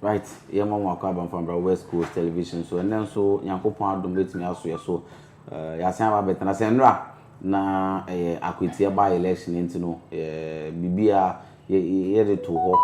right yɛ ma wɔn akɔ abanfambra west coast television so ɛnɛ nso nyankopɔn adom bɛtumi aso yɛ so eh, yɛasan aba bɛtena sɛ nnora na ɛyɛ eh, akwatia ba election nti no eh, biribi a yɛde to hɔ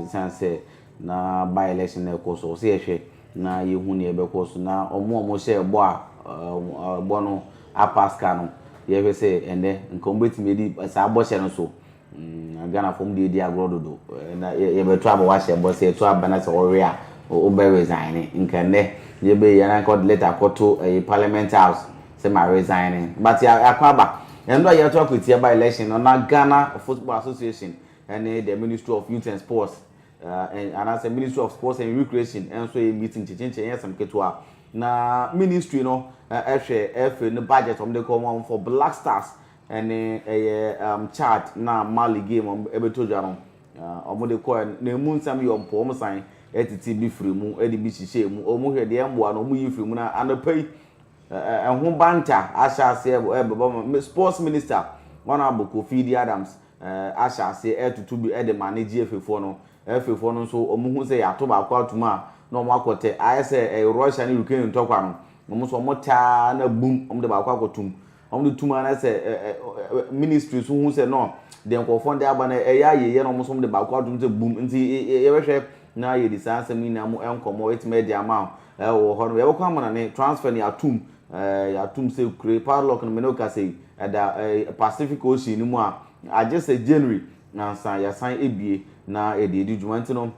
ɛsiane sɛ Na by election na ɛkɔ so. Ɔsɛ yɛhwɛ na yɛhu nea ɛbɛkɔ so na wɔn a wɔhyɛɛ bɔ a bɔ no apass ka no, yɛhwɛ sɛ ɛnnɛ nka wɔbɛtumi adi saa bɔhyɛ no so. Na Ghanafoɔ wɔn deɛ di agorɔ dodo. Na yɛbɛto aba wahyɛ bɔ, sɛ yɛto aba na sɛ wɔwe a wobɛ resigne. Nka ɛnnɛ yɛbɛyɛ yi anaa nka wɔde letter akɔto parliament house sɛ ma resigne. But yɛakɔ aba. Ɛno a yɛato akɔtia by election no na Ghana Football Association ne the Ministry of Youth and Sports, ɛn, anaasɛ Ministry of Sports and Recreation nso yɛ meeting kyekyekye, ɛnyɛ asɛm ketewa. Na Ministry no hwɛ FA no budget wɔn de kɔ wɔn for Black Stars ne ɛyɛ ɛm Chad na Mali game wɔn ɛbɛtɔ dwa no wɔn de kɔɛ no, na emu nsɛm yɛ wɔn pɛ, wɔn san ɛtete bi firi mu ɛde bi hyehyɛ emu, wɔn hwɛ deɛ ɛmboa no wɔn yi firi mu, na anɔpa yi ɛho banta ahyɛ aseɛ ɛbɛbɔ ma Sports Minister Honourable Kofi Idi Adams ahyɛ aseɛ retutu bi de ma ne GFAfoɔ no. FAfoɔ no nso wɔhu sɛ yɛato baako atom a, na wɔakɔtɛ. Ayɛ sɛ Russia ne Ukraine ntɔkwa no, wɔn nso wɔtɛ ara na bum, wɔde baako akɔtom. Wɔde tum ara na sɛ ministry nso hu sɛ no, deɛ nkurɔfoɔ de aba no ɛyɛ ayieɛ na wɔn nso wɔde baako atom sɛ bum. Nti yɛbɛhwɛ na yɛde saa nsɛm yi nyinaa mu nkɔmmɔ atumi de ama wɔ hɔ no. Yɛbɛkɔ amanane, transfer no yɛatom, Ɛɛ, yɛato mu sɛ kure. Power lock no, me ne wo kasa yi, ɛda ɛɛ Pacific Ocean no mu a agye sɛ January ansa yɛasan abue na yɛde adi dwuma. Nti no,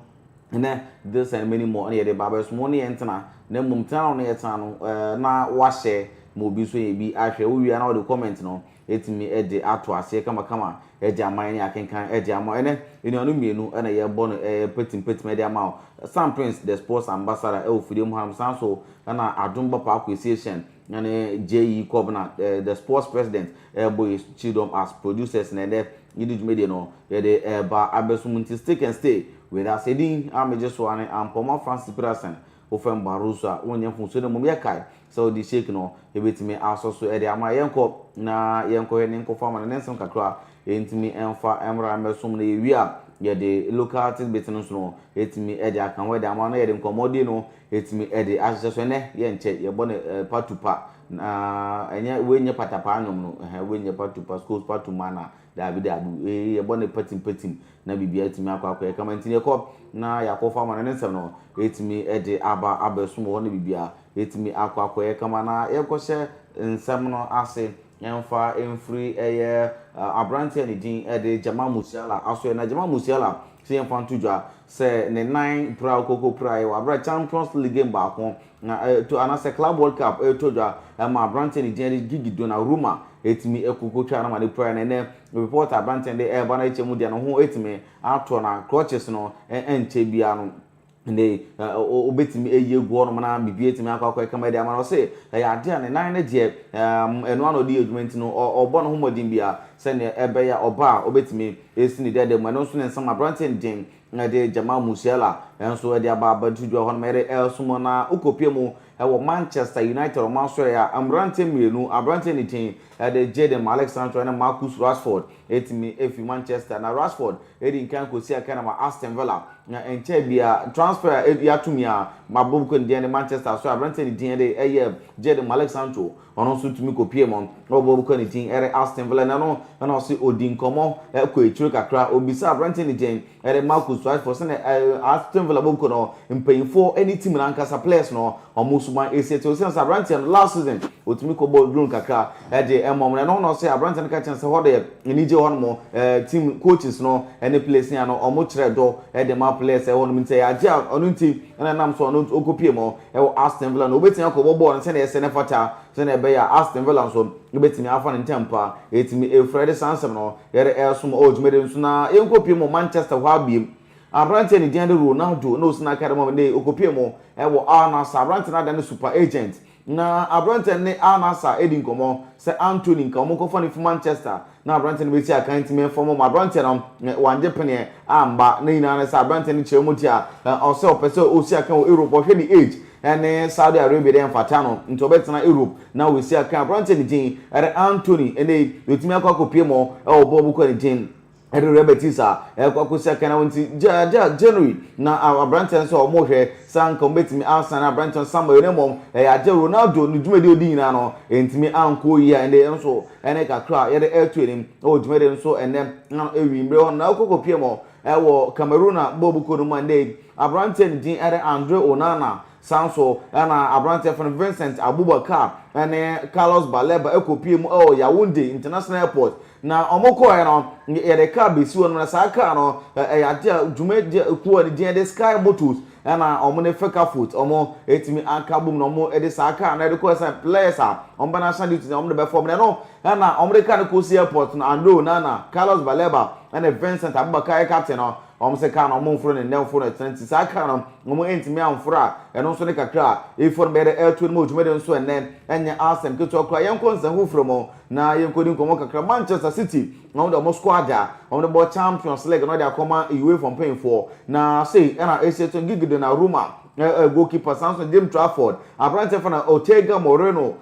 nnɛ this and many more na yɛde reba abɛsom. Wo ne yɛn ntena, na mmom tena na wo ne yɛn tena no, ɛɛ na woahyɛ ma obi nso anya bi ahwɛ. Wowie a na wode comment no atumi de ato aseɛ kamakama de ama yɛn ne akenkan de ama wo. Ɛnnɛ, nnuanom mmienu na yɛrebɔ no mpɛtimpɛtim de ama wo. Sam Prince, The Sports Ambassador wɔ Fidiem hanom, saa ara nso na Adom Bapaa Kwesi Essien ne JE Kobena, The Sports President, rebɔ yɛn kyidɔm as producers na ɛnnɛ yɛde dwumadie no yɛde reba abɛso mu. Nti stick and stay with us. Edin a megye so ara ne Ampɔma Francis Peterson, Wo fam barosu a wonyɛ hu so na mmom yɛkae sɛ ɔde shake no betumi asɔ so de ama. Yɛnkɔ na yɛnkɔhwɛ ne nkɔfo amane ne nsɛm kakra a entumi mfa mmra mmɛsom na yewie a yɛde local tidbits no nso no etumi de aka ho de ama na yɛde nkɔmmɔdi no etumi de ahyehyɛ so. Ɛnnɛ yɛnkyɛ yɛbɔ no patu pa na ɛnyɛ wei nyɛ patapaa nnwom no, ɛhɛn wei nyɛ patu pa, School's Patu Manor Daabi, daabi. Ee, yɛbɔ no patimpatim, na biribiara tumi akɔ akɔyɛ kama. Enti yɛkɔ, na yɛakɔfa ama no, ne Nsɛm no atumi de aba abɛsom wɔ hɔ, na biribiara atumi akɔ akɔyɛ kama. Na yɛnkɔhyɛ Nsɛm no ase mfa mfiri ɛyɛ aberanteɛ a ne din de Jamal Musiala asoeɛ. Na Jamal Musiala, sɛ yɛmfa nto dwa sɛ ne nan pira a ɔkɔkɔpiraeɛ wɔ aberɛ a Champions League game baako Na ɛto anaa sɛ Club World Cup ɛretɔ dwa ɛma aberanteɛ ne din ɛde Gigi Donnarumma ɛtumi ɛkoko twa no ma no pira na ɛnɛ report a aberanteɛ no de ɛreba no akyɛ mu deɛ ne ho ɛtumi atɔ na crutches no ɛnkyɛ biara no ɛnɛ yi ɔbɛtumi ayi agu hɔ nom na biribi ɛtumi akɔ akɔ ɛkama ɛde ama no ɔse ɛyɛ adeɛ a ne nan no deɛ ɛno ano ɔde yɛ adwuma nti no ɔbɔ ne ho mmɔden biara sɛdeɛ ɛbɛyɛ a ɔba a ɔbɛtumi ɛsi ne dɛdɛ mu ɛno nso ne nsɛm aberanteɛ no din na ɛde Jamal Musiala nso de aba abantudua hɔ nom ɛde resom wɔn na wokɔpue mu wɔ Manchester United wɔn asoɛeɛ a mmeranteɛ mmienu aberanteɛ ne din de Jadon Malik Sancho ne Marcus Rashford ɛtumi ɛfiri Manchester na Rashford ɛdi nkan kɔsi akan ama Aston Villa na ɛnkyɛɛ bia transfer a yɛatumi a mabobokɔ ne din de Manchester asoɛ aberanteɛ ne din de ɛyɛ Jadon Malik Sancho Ɔno nso tumi kɔpie mu. Na ɔbɔ bɔkɔ a ne din ɛre Aston Villa na no na ɔse ɔdi nkɔmmɔ ɛkɔ akyire kakra. Ɔbisaa aberanteɛ no din ɛre Marcus Rashford sɛnea ɛɛ Aston Villa bɔkɔ no mpanyinfoɔ ɛne team no ankasa players no ɔmo suban ɛsi ɛte. Ɔsiane sɛ aberanteɛ no last season ɔtumi kɔ bɔɔ drone kakra ɛde ɛma ɔmo. Na ɛno ho na ɔse aberanteɛ no ka kyerɛ no sɛ hɔ deɛ anigye wɔ hɔ nom. Ɛɛ team coaches no ɛne players no a no ɔmo kyerɛ dɔ ɛde ma players ɛwɔ hɔ nom nti sɛ yɛagye a ɔno nti na ɛnam so a na ɔkɔpie mu wɔ Aston Villa no, ɔbɛtumi akɔbɔ bɔɔl no sɛdeɛ ɛsɛ na ɛfata sɛdeɛ ɛbɛyɛ a Aston Villa nso bɛtumi afa no ntɛmpo a ɛtumi ɛfiri. Ɛde saa nsɛm no yɛde ɛresom wɔ dwumadie no so na yɛnkɔpie mu wɔ Manchester hɔ ara bio. Aberanteɛ a ne din de Ronaldo na ɔsi n'akadeɛ mu a ɛnnɛ yi ɔkɔpie mu wɔ Al Nassr. Aberanteɛ no adane super agent Na aberanteɛ no ne Al-Nassr redi nkɔmmɔ sɛ Antony nka wɔn nkɔfa no mfiri Manchester na aberanteɛ no bɛsi akan ntumi mfam wɔn. Aberanteɛ no wannye peneɛ amma. Ne nyinaa ne sɛ aberanteɛ no kyerɛ mu tia sɛ ɔpɛ sɛ ɔsi akan wɔ Europe. Ɔhwɛ ne age ne Saudi Arabia dɛ ɛmfata no nti ɔbɛtena Europe na wasi akan. Aberanteɛ no din de Antony. Ɛnnɛ yi, yɛtumi akɔ akɔpie mu wɔ bɔɔl mu kɔ ne din. Ɛde rheumatis a ɛkɔ akosi kan a wɔn ti gya gya January na aberanteɛ nso a wɔn rehwɛ sɛ anka wɔn bɛtumi asan aberanteɛ no Samuel na mmom ɛyɛ agye Ronaldo ne dwumadi a ɔdi nyinaa no ɛntumi ankɔ yie a ɛnde yɛn nso ɛne kakra a yɛde ɛreto anim wɔ dwumadi no so ɛnɛ na ɛwi mmerɛ hɔ no na ɔkɔ kɔpie mu ɛwɔ Cameroon a bɔɔl bu kuo no mu ɛnde yi aberanteɛ ne din ɛde Andre Onana Saa nso na aberanteɛ yɛfrɛ no Vincent Abubakar ne Carlos Baleba kɔpue mu wɔ Yaoundé International Airport. Na wɔkɔɔɛ no, yɛde kaa bɛsi hɔ nom na saa kaa no yɛ adeɛ a dwumadie kuo a ne din de Sky Motors ɛna wɔn ne Fecafoot wɔn ɛtumi aka bom na wɔn de saa kaa no de kɔɔɛ sɛ players a wɔn bɛ national duty na wɔn de bɛfɔ wɔn na ɛno ɛna wɔn de kaa no kɔsi airport no Andre Onana, Carlos Baleba ne Vincent Abubakar yɛ captain no. Wɔn se kar no wɔn nforo ne nnɛmfo no ɛtena nti saa kar no wɔn ntumi anforo a ɛno nso ne kakra a eifɔ no bɛyɛ dɛ ɛreto no mu wɔ dwumadi nso ɛnnɛ ɛnyɛ asem ketewa koraa yɛnkɔ nsɛm foforo mu na yɛnkɔdi nkɔmmɔ kakra Manchester City wɔn de wɔn squad a wɔn de bɔ Champions League no de akɔma UEFA mpanyinfoɔ na sei ɛna ɛsi ɛto Gigi Donnarumma goalkeeper saa nso Jim Trafford aberanteɛ fa na Ortega Moreno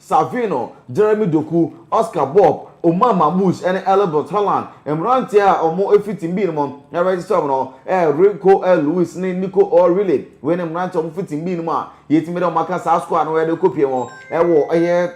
Savino, Jeremy Doku, Oscar Bobb, Omar Mamouche ne Elbert Haaland. Mmeranteɛ a wɔfiri tim bii no mu a wɔresesa wɔn no yɛ Rico Lewis ne Nico O'Reilly. Wei ne mmeranteɛ a wɔfiri tim bii no mu a yɛtumi de wɔn aka saa squad no a yɛde rekɔpie wɔn wɔ ɛyɛ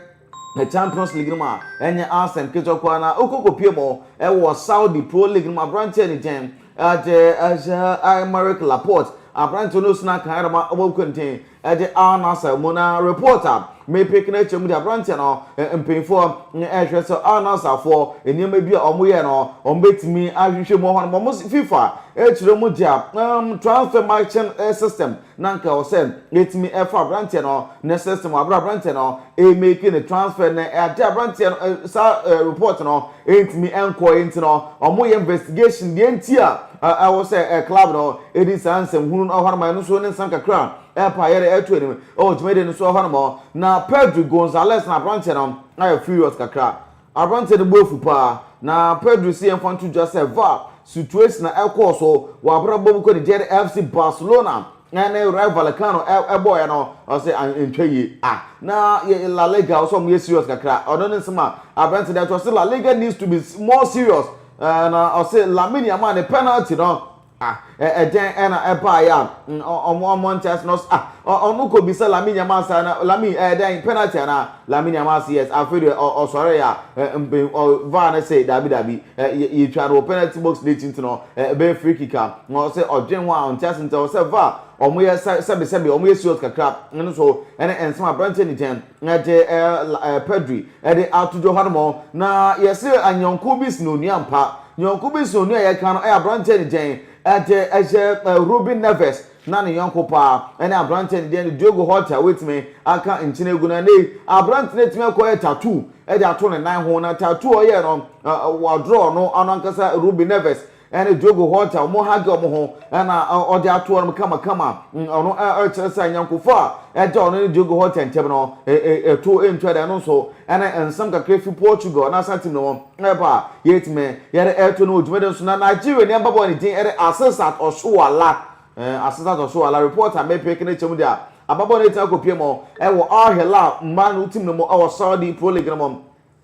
Champions League no mu a ɛnyɛ asɛm ketewa koraa na wokɔ kɔpie mu wɔ Saudi Pro League no mu. Aberanteɛ ne gyɛn agye ahyɛ Aymeric Laporte. Aberanteɛ no sena kan ara ma wɔkɔ nten. Ɛde Al Nassr mu no report a me pick no kyerɛ mu de abranteɛ no mpanyinfoɔ ɛrehwɛ sɛ Al Nassr foɔ nneɛma bi a wɔn yɛ no wɔn bɛtumi ahwehwɛ mu wɔn wɔn FIFA ɛkyerɛ mu gya um, transfer matching eh, system na nka ɛwɔ sɛ ɛtumi ɛfa abranteɛ no ne system abere abranteɛ no ɛmɛki ne transfer no ɛde abranteɛ no eh, saa eh, report no Ɛntumi nkɔɔɛ nti no ɔmo yɛ investigation deɛ nti a ɛwɔ sɛ club no ɛdi saa nsɛm hunu no hɔnom ɛno nso ne nsɛm kakra ɛpɛ a yɛde ɛto anim ɛwɔ dwumadie no so hɔnom na Pedri Gonzalez no abranteɛ no ayɛ furious kakra abranteɛ no bo afu paa na Pedri se yɛmfa nto dwa sɛ var situation a ɛkɔɔ so wɔ abrabɔ mu kɔ ne gyɛɛ FC Barcelona na ne Rayo Vallecano ɛbɔɔyɛ no ɔsɛ antwa yie a na La Liga ɔsɛ ɔmo yɛ serious kakra ɔno ne nsɛm a aberante dɛ ɔsɛ La Liga needs to be more serious eh, na ɔsɛ Lamine Yamal ne penalty no ah ɛdɛn ɛna ɛbaayɛ a ɔmo ɔmo nkyɛn ase na ɔsɛ ah ɔno kɔ bisa Lamine Yamal saa na Lamine ɛdɛn penalty ana Lamine Yamal sɛ yes afei deɛ ɔsɔre yɛ a mpen ɔvaa ne sɛ daabi daabi yɛtwa no wɔ penalty box n'akyi nti no Eh, ɛbɛyɛ free kick a na ɔsɛ ɔdwen ho a ɔnte ase nti ɔwɔ sɛ var ɔmo yɛ sɛbesɛbe ɔmo yɛ serious kakra ɛno so ɛne ɛnsɛm aberanteɛ ne gyɛn ɛde ɛɛ Pedri ɛde ato dwa hɔ nom na yɛse anyɔnko bi sin onua mpa nyɔnko bi sin onua yɛka no ɛyɛ aberanteɛ ne gyɛn ɛde ɛyɛ Ruben Neves Ná ne yɔnko paa ne aberanteɛ a ne din de Diogo Horta a watumi aka nkyene agu no. Ɛnnɛyi, aberanteɛ no atumi akɔyɛ tattoo de ato ne nan ho. Na tattoo a ɔyɛɛ no, wɔadrɔɔ no, ɔno ankasa Rubi Neves ne Diogo Horta, wɔhage wɔn ho na ɔde ato hɔnom kamakama. Ɔno kyerɛ sɛ ayɔnkofa a ɛda ɔno ne Diogo Horta ntam no, ɛtoɔ ntwa da. Ɛno nso ne nsɛm kakra fi Portugal n'asatem no ho. Ɛba a, yɛtumi yɛde ɛto no wɔ dwumadi no so. Na Nigeria ni ababɔ a ne din ɛde Asisat Oshoala, eh, Asisat Oshoala, report a mepeke no kyɛm de a, ababɔ no ɛtumi akɔpie mu ɛwɔ Al Hilal mmaa no tim no mu ɛwɔ Saudi Pro League no mu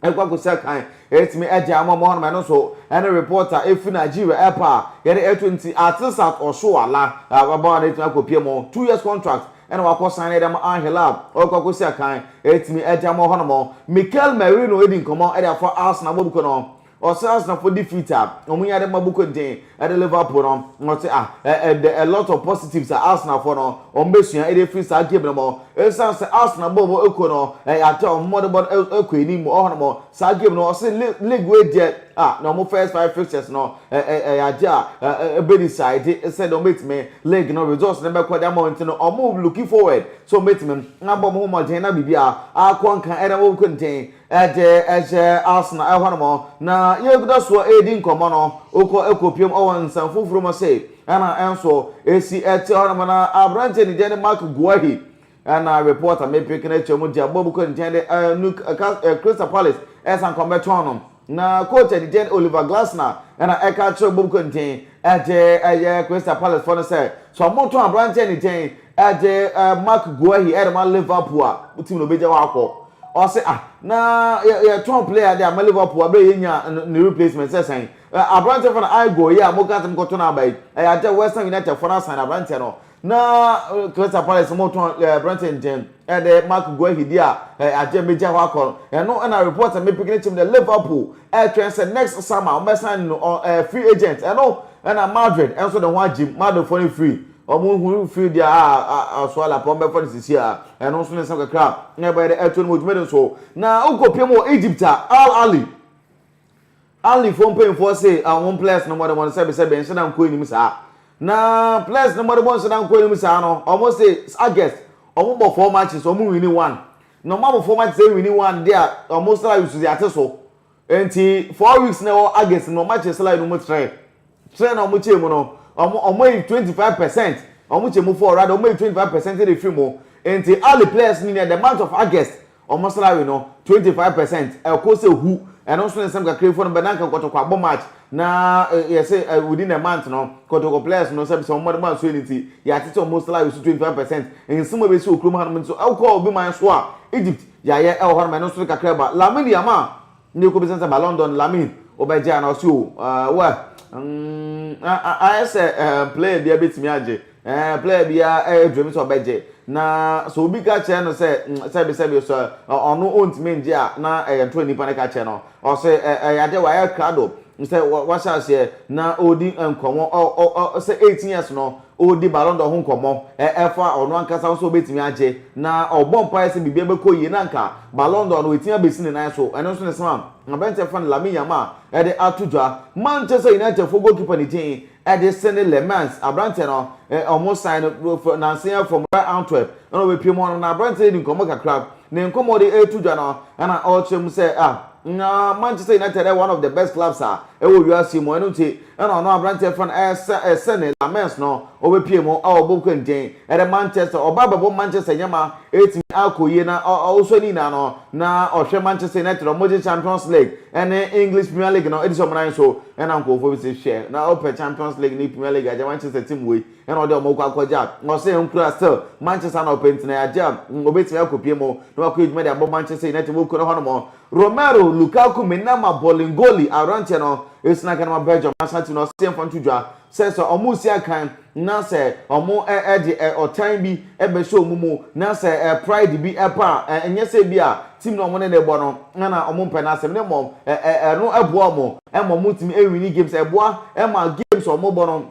ɛkɔ akɔsi akan ɛtumi agya ama ɔmo hɔ nom ɛno nso ɛne report a ɛfi Nigeria ɛba a yɛde ɛto nti Asisat Oshoala ababɔ no ɛtumi akɔpie mu two years contract na wakɔ san de ama Angel a ɔrekɔ akɔsi akan atumi agye ama hɔnom no. Mikel Merino adi nkɔmmɔ de afa Arsenal abɔ Buko no ho. Ɔse Arsenalfo defeat a wɔnya de ma Buko den de Liverpool no, ɔse ah, the a lot of positives a Arsenalfo no wɔbɛsua de afiri saa game no mu. Esiane sɛ Arsenal bɔɔ bɔ kɔ no, ɛyɛ ade a wɔde bɔ no kɔ anim hɔnom saa game no, ɔse league wei deɛ, a na wɔn first five fixtures no ɛyɛ ade a ɛbɛ decide sɛ deɛ wɔbɛtumi league no results no bɛkɔ de ama wɔn ti no wɔn looking forward sɛ wɔbɛtumi abɔ wɔn ho mmɔden na biribi a akɔ nka ɛna wɔn kɔ nten ɛde ɛhyɛ Arsenal ɛhɔ nom na yɛguda soɔ ɛredi nkɔmmɔ no wokɔ ɛkɔ piem ɔwɔ nsɛm foforɔ mu sɛ ɛna ɛnso ɛsi ɛte hɔ nom na aberanteɛ ne deɛ ne Mark Guahi Ɛna report a mepere kena kyɛ mu de abɔ bu kɔ nkyɛn de ɛɛ nu ɛka ɛɛ Crystal Palace ɛsan kɔn bɛtɔn no. Na coach a ɛdidɛn Oliver Glasner ɛna ɛka kyerɛ bɔ bu kɔ nten ɛde ɛyɛ Crystal Palace fɔ no sɛ sɛ ɔmo tɔn aberanteɛ ɛdidɛn ɛde ɛɛ Mark Guehi ɛde ma Liverpool a mo team no ɔbɛgya hɔ akɔ. Ɔse ah na yɛ yɛ tɔn player de ama Liverpool abere yɛ nya ne replacement sɛ sɛn. Aberanteɛ fɔ no I Guehi a mo ka sɛ mo kɔ tɔ no aba yi ɛyɛ adeɛ West Ham United fɔ no asan aberanteɛ no. Na Crystal Palace no wɔtɔn ɛɛ aberante nkyɛn ɛde Marc Guehi di a ɛɛ agye mmegya hɔ akɔ no ɛno ɛna report a mepeke ne kyɛm dɛ Liverpool ɛretwɛn sɛ next summer wɔbɛsan no ɔ ɛɛ free agent ɛno ɛna Madrid ɛnso ne ho agye mu Madridfoɔ no free wɔn ho free deɛ a a Asuala pɔn bɛfa no sisi a ɛno nso ne nsɛm kakra a ɛbɛyɛ dɛ ɛto no mu dwumadi nso na wokɔ pie mu wɔ Egypt a Al Ahly Anli foɔ mpanyinfoɔ se ahom plɛs no mɔde mɔn sɛbe sɛbe nhyɛda nkɔ anim saa. Na plɛs no mɔde mɔn nhyɛda nkɔ anim saa no ɔmo se August ɔmo bɔ four matches ɔmo wini one. Na ɔmo abɔ four matches awini one dea ɔmo salary so dze ate so. Nti four weeks na ɛwɔ August no ɔmo akye salary no mu trɛ. Trɛ na ɔmo kyɛɛ mu no ɔmo ɔmo ayi twenty five percent ɔmo kyɛ mu four rather ɔmo ayi twenty five percent de firi mu. Nti Anli plɛs no nya the month of August Wɔn salary no twenty five percent ɛkɔ sɛ hu ɛno nso ne nsɛm kakra fo no bɛ na nka kɔtɔkɔ abɔ match na yɛse within a month no kɔtɔkɔ players no sɛ sɛ wɔn mmadoma nso ɛni nti yɛatete wɔn salary so twenty five percent nsɛm a ɛbɛsi wɔ kurom hanom nso ɛwokɔ obi man so a Egypt yɛayɛ ɛwɔ hɔnom ɛno nso ne kakra ba Lamidi ama Ndɛ ekobisa no sɛ ba London no Lamine wo bɛ gye anaa ɔse oo eh wɛ mm ah ah ayɛ sɛ eh player biaa bɛtumi agye eh player biaa eh dream sɛ ɔbɛ gye na sɛ obi ka kyerɛ no sɛ mm sɛbi sɛbi sɛ eh ɔno ontumi ngye a na ɛyɛ ntorɔ nipa no ka kyerɛ no ɔse eh ɛyɛ adeɛ wayɛ krado sɛ wahyɛ aseɛ na ɔɔdi nkɔmɔ ɔ ɔ ɔ sɛ eighteen years no Ɔredi Ballon d'Or ho nkɔmmɔ, ɛfa ɔno ankasa ho sɛ ɔbɛtumi agye, na ɔrebɔ mpaeɛ sɛ biribiara bɛkɔ yie na anka Ballon d'Or no watumi abɛsi ne nan so. Ɛno nso na ɛsoma aberanteɛ frɛ no Lamine Yamal de ato dwa. Manchester Unitedfoɔ goalkeeper no din de Senne Lammens. Aberanteɛ no, wɔsan no nnansa yi from Royal Antwerp na ɔbɛpiem hɔ nom, na aberanteɛ no redi nkɔmmɔ kakra. Ne nkɔmmɔ a ɔde reto dwa no na ɔrekyerɛ mu sɛ, ah, Manchester United yɛ one of the best clubs a ɛwɔ wiase yi mu, ɛno nti Ɛna ɔno aberanteɛ yɛfrɛ no ɛɛ Sene Lammens no ɔbɛpue mu a ɔbɔ nkenten ɛde Manchester ɔba abɛbɔ Manchester nyɛma ɛtumi akɔ yie na ɔsɔ ne nyinaa no na ɔhwɛ Manchester United a wɔgye Champions League ɛne English Premier League no ɛdi sɛ wɔn nan so ɛna nkurɔfoɔ bi sɛ hwɛ na ɔpɛ Champions League ne Premier League agya Manchester team wei ɛna ɔde wɔn kɔ akɔgya ɔsɛ nkura still Manchester na ɔpɛ ntina agya ɔbɛtumi akɔpue mu na wakɔ adwuma de abɔ Manchester United wɔkura hɔ nom Romero Lukaku mena ma Bolingoli aberanteɛ no ɛsi na Ghana ma Belgium national team no ɔse yɛmfa nto dwa sɛ sɛ ɔmo si akan na sɛ ɔmo de ɔtan bi bɛhyɛ ɔmo mu na sɛ pride bi ɛba a ɛnyɛ sɛ bi a team no ɔmo ne ne bɔ no na ɔmo mpɛ n'asɛm ne mmom ɛno ɛboa ɔmo ɛma ɔmo tumi ɛwini games ɛboa ɛma games ɔmo bɔ no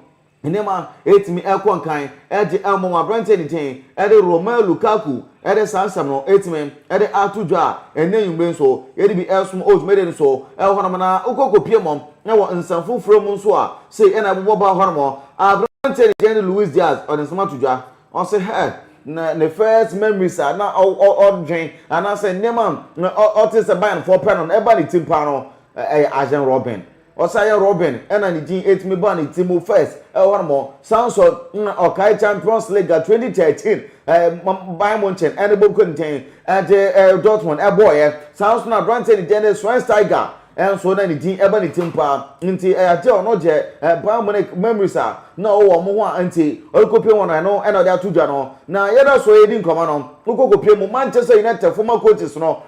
Nneɛma a etumi kɔ nkan de mmɔ mo aberante ani den de Romelu Lukaku de saa nsɛm no etumi de ato dwa a, ɛnnɛ anwummere nso yɛde bi resom wɔ dwumadi no so wɔ hɔnom na wokɔ kɔpie mu wɔ nsɛm foforɔ mu nso a, sei na ɛbobɔ baa hɔnom, Aberante no din de Luis Diaz, ɔde nsɛm ato dwa, ɔse hɛ! na ne first memories a na ɔdwen anaasɛ nneɛma a ɔte sɛ Bayernfoɔ pɛ no na ɛba ne tim paa no yɛ Arjen Robben. Ɔsan yɛ Robben na ne din tumi baa ne tirim first wɔ hɔ nom. Saa nso na ɔkae Champions League a twenty thirteen Bayern Munchen ne Bobkotn de Dortmund bɔeɛ. Saa nso na aberanteɛ a ne din de Schweinsteiger nso na ne din ba ne tirim paa. Nti ɛyɛ adeɛ a ɔno gye Bayern Munich memories a na ɔwɔ wɔn ho a nti ɔrekɔpie wɔn no ɛno na ɔde ato dwa no. Na yɛda so redi nkɔmmɔ no, wokɔ kɔpie mu Manchester Unitedfoɔ ma coaches no,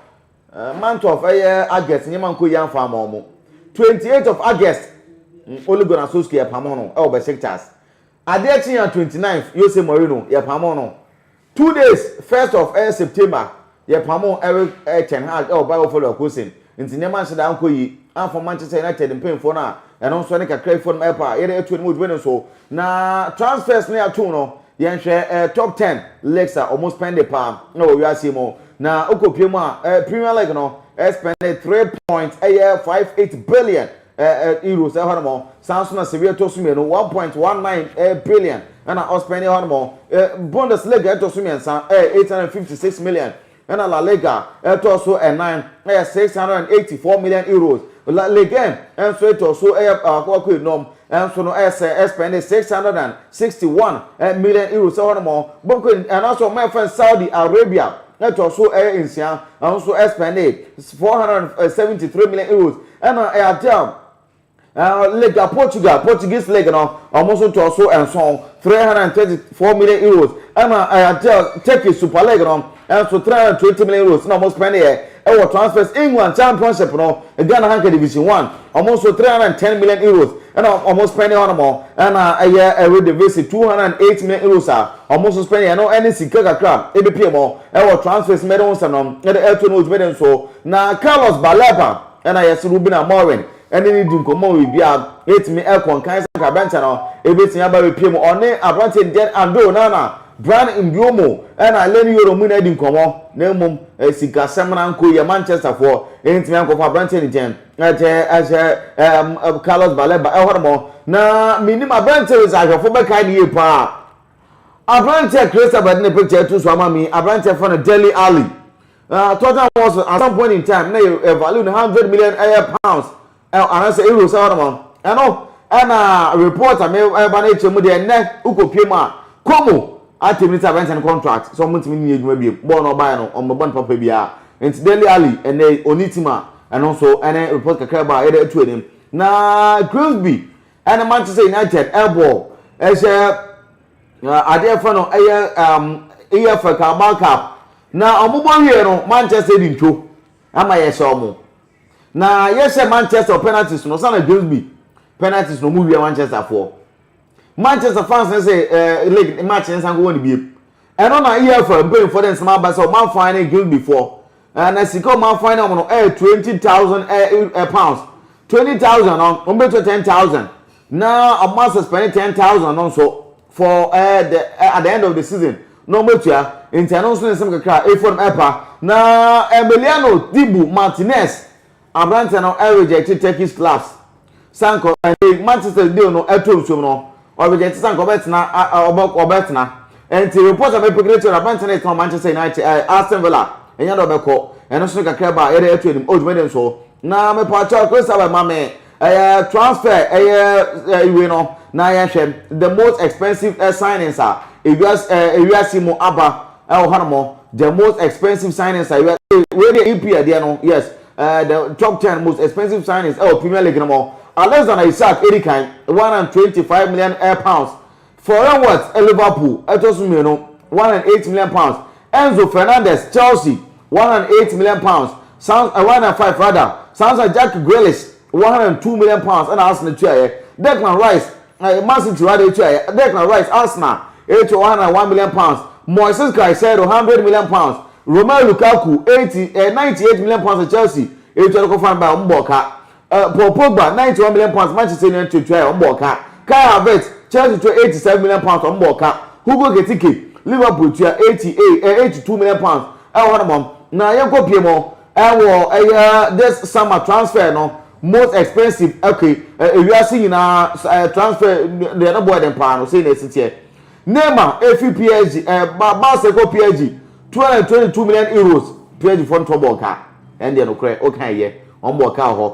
Month of ɛyɛ August nneɛma nkɔ yie amfa ama wɔn. Twenty eight of August Ole Gunnar Solskjaer yɛpamoo no wɔ Besiktas. Adeɛ kyeeɛ a twenty ninth Jose Mourinho yɛpamoo no. Two days first of ɛyɛ September yɛpamoo Erik ten Hag wɔ Bayer Leverkusen. Nti nneɛma nhyɛ da ankɔ yie amfa Manchester United mpanyinfoɔ no a ɛno nso ɛne kakra bi fam ɛrepɛ a yɛde atua ne mu odwuma no nso. Na transfers no yɛatom no Yɛnhwɛ eh, top ten leagues a wɔn spɛnde paa wɔ wiase yi mu. Na wokɔpue mu a, eh, Premier League no eh, spɛnde three point ɛyɛ five eight billion eh, eh, euros ɛhɔ nom. Saa nso na Serie ɛtɔ so mmienu, one point one nine eh, billion ɛna ɔspɛnde hɔ nom. Eh, Bundesliga ɛtɔ so mmiɛnsa, eh, eight hundred and fifty six million Ɛna La Liga ɛtɔ so ɛnan ɛyɛ six hundred and eighty four million euros. La Ligue un ɛnso ɛtɔ so ɛyɛ baako baako enum ɛnso no ɛyɛ sɛ ɛspɛnde six hundred and sixty one million euros ɛhɔ nom. Bonkɔn anaasɛ wɔn a ɛfɛn no Saudi Arabia ɛtɔ so ɛyɛ nsia ɛnso ɛspɛnde four hundred and seventy three million euros. Ɛna ɛyɛ adeɛ a League a Portugal, Portuguese League no, wɔn nso ntɔɔ so nson, 334 million euros. Ɛna ɛyɛ Turkish Super League no nso 320 million euros na wɔn spend yɛ ɛwɔ transfers. England Championship no, Ghana Hanka Division One, wɔn nso 310 million euros na wɔn spend hɔ nom. Ɛna ɛyɛ Eredivisie 208 million euros a wɔn nso spend yɛ no ɛne sika kakra ebepie mo ɛwɔ transfers mɛde ho nsɛm no ɛde ɛto no dwumadi nso na Carlos Baleba Ɛnna yɛse Ruben Amorim ne no di nkɔmmɔ ma biribiara atumi akɔ nkan sɛ anka Bentsen no bɛtumi aba abɛpue mu. Ɔne aberanteɛ Dieng Ando, Nana, Bryan Mbeumo ɛnna Leny Yoro mo nyinaa di nkɔmmɔ na mmom sikasɛm no ankɔ yie. Manchesterfoɔ ntumi ankɔfa aberanteɛ no nkyɛn. Ɛte sɛ Carlos Baleba ɛhɔ nom na menim aberanteɛ wei sɛ ahwɛfoɔ bɛkae no yie pa ara. Aberanteɛ a Crystal bɛde ne picture ato so ama me yi, aberanteɛ frɛ no Dele Alli. Na total was at some point in time na yɛ value no hundred million ɛyɛ pounds anaasɛ euros ɛwɔ nom ɛno ɛna report a me ɛba no akyerɛ mu deɛ nnɛ wokɔ pie mu a kɔmu atim ne sɛ abɛnten contract sɛ ɔmo ntumi ne adwuma biem bɔɔl no ɔbaeɛ no ɔmo bɛbɔ no papa biara nti Dele Alli ɛnɛ ɔni tim a ɛno nso ɛne report kakra ba a yɛde atu anim na Grimsby ɛne Manchester United ɛbɔ ɛhyɛ Na ade a ɛfa no ɛyɛ um, EFL Carabao Cup na wɔn bɔ wie no Manchester di ntwo ama yɛhyɛ wɔn na yɛhyɛ Manchester penalties no sanna James B penalties no wɔn wia Manchester foɔ Manchester fans ne sɛ ɛɛ eh, league match ne nsan kɔ wɔn ne bie ɛno na EFL mpanyinfoɔ de nsɛm aba sɛ wɔn afan ne James B foɔ. Ɛɛ na sika a wɔn afan wɔn no ɛyɛ twenty thousand ɛɛ pounds twenty thousand no wɔn bɛ tua ten thousand na wɔn asɛ spɛne ten thousand no nso for ɛɛ eh, the eh, at the end of the season na wɔn bɛ tua nti ɛno nso ne nsɛm kakra efo no ɛpa na Emiliano Dibu Martinez Aberanteɛ no rejecte Turkish clubs sane kɔ ɛnɛ yi Manchester deal no ɛtɔ nsuom no ɔ rejecte sane kɔ ɔbɛtena ɔbɛ ɔbɛtena ɛnti report a mepekere kyerɛ no aberanteɛ no ɛtena Manchester United ɛɛ Aston Villa ɛnyɛ dɛ ɔbɛkɔ ɛno so no kakra ba yɛde ɛto anim o dwumadi nso na mepaakyɛw Chris Abel ma me ɛyɛ transfer ɛyɛ ɛwei no na yɛhwɛ the most expensive signings a ewiase ɛɛ ewiase mu aba ɛwɔ hɔ nom the most expensive signings a yɛ wei deɛ EP ɛdeɛ no yes ɛɛ the top ten most expensive signings ɛwɔ Premier League nom Alexander Isak edi kan one hundred twenty five million ɛɛ pounds Florian Wirtz ɛɛ Liverpool ɛtɔ so mmienu one hundred eight million pounds Enzo Fernandez Chelsea one hundred eight million pounds Sans ɛɛ one hundred five rather Sans Jack Grealish one hundred two million pounds ɛna Arsenal tuaeɛ Declan Rice Aye Man City wɔ ade atua yɛ, Declan Rice Arsenal atua one hundred and one million pounds, Moises Caicedo hundred million pounds, Romelu Lukaku eighty eh ninety eight million pounds Chelsea atua no kɔ fan ba wɔn bɔɔ ka, eh Paul Pogba ninety one million pounds Manchester United tua yɛ wɔn bɔɔ ka, Kai Havertz Chelsea tua eighty seven million pounds wɔn bɔɔ ka, Hugo Ekitike Liverpool tua eighty eh eighty two million pounds ɛwɔ hɔ nom wɔn na yɛn kɔ pie mo. Ɛwɔ ɛyɛ this summer transfer no most expensive okay ewiase nyinaa transfer deɛ ne boɔ den paa no sɛ na ɛsi teɛ Neymar efi PSG ɛba Barca kɔ PSG 222 million euros PSG fɔ ntɔ bɔɔl kaa ɛndeɛ no korɛ okan ɛyɛ wɔn bɔɔl kaa hɔ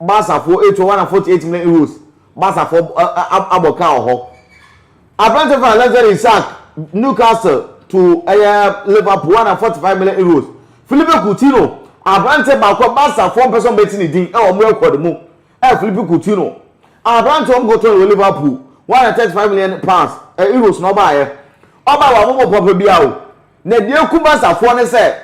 Basafoɔ etu one hundred and forty eight million euros Basafoɔ abɔ kaa wɔ hɔ. Aberanteɛ fɛn Alexander Isak Newcastle to ɛyɛ Liverpool one hundred and forty five million euros. Philippe Coutinho aberanteɛ baako a Basafoɔ mpɛ sɛ wɔbɛte ne din ɛwɔ wɔn record mu ɛyɛ Philippe Coutinho aberanteɛ wɔn kɔtɔn wɔ Liverpool one hundred and thirty five million pounds ɛ euros na ɔbaayɛ ɔbaa wɔ amobɔ papa biara o na deɛ eku Basafoɔ ne sɛ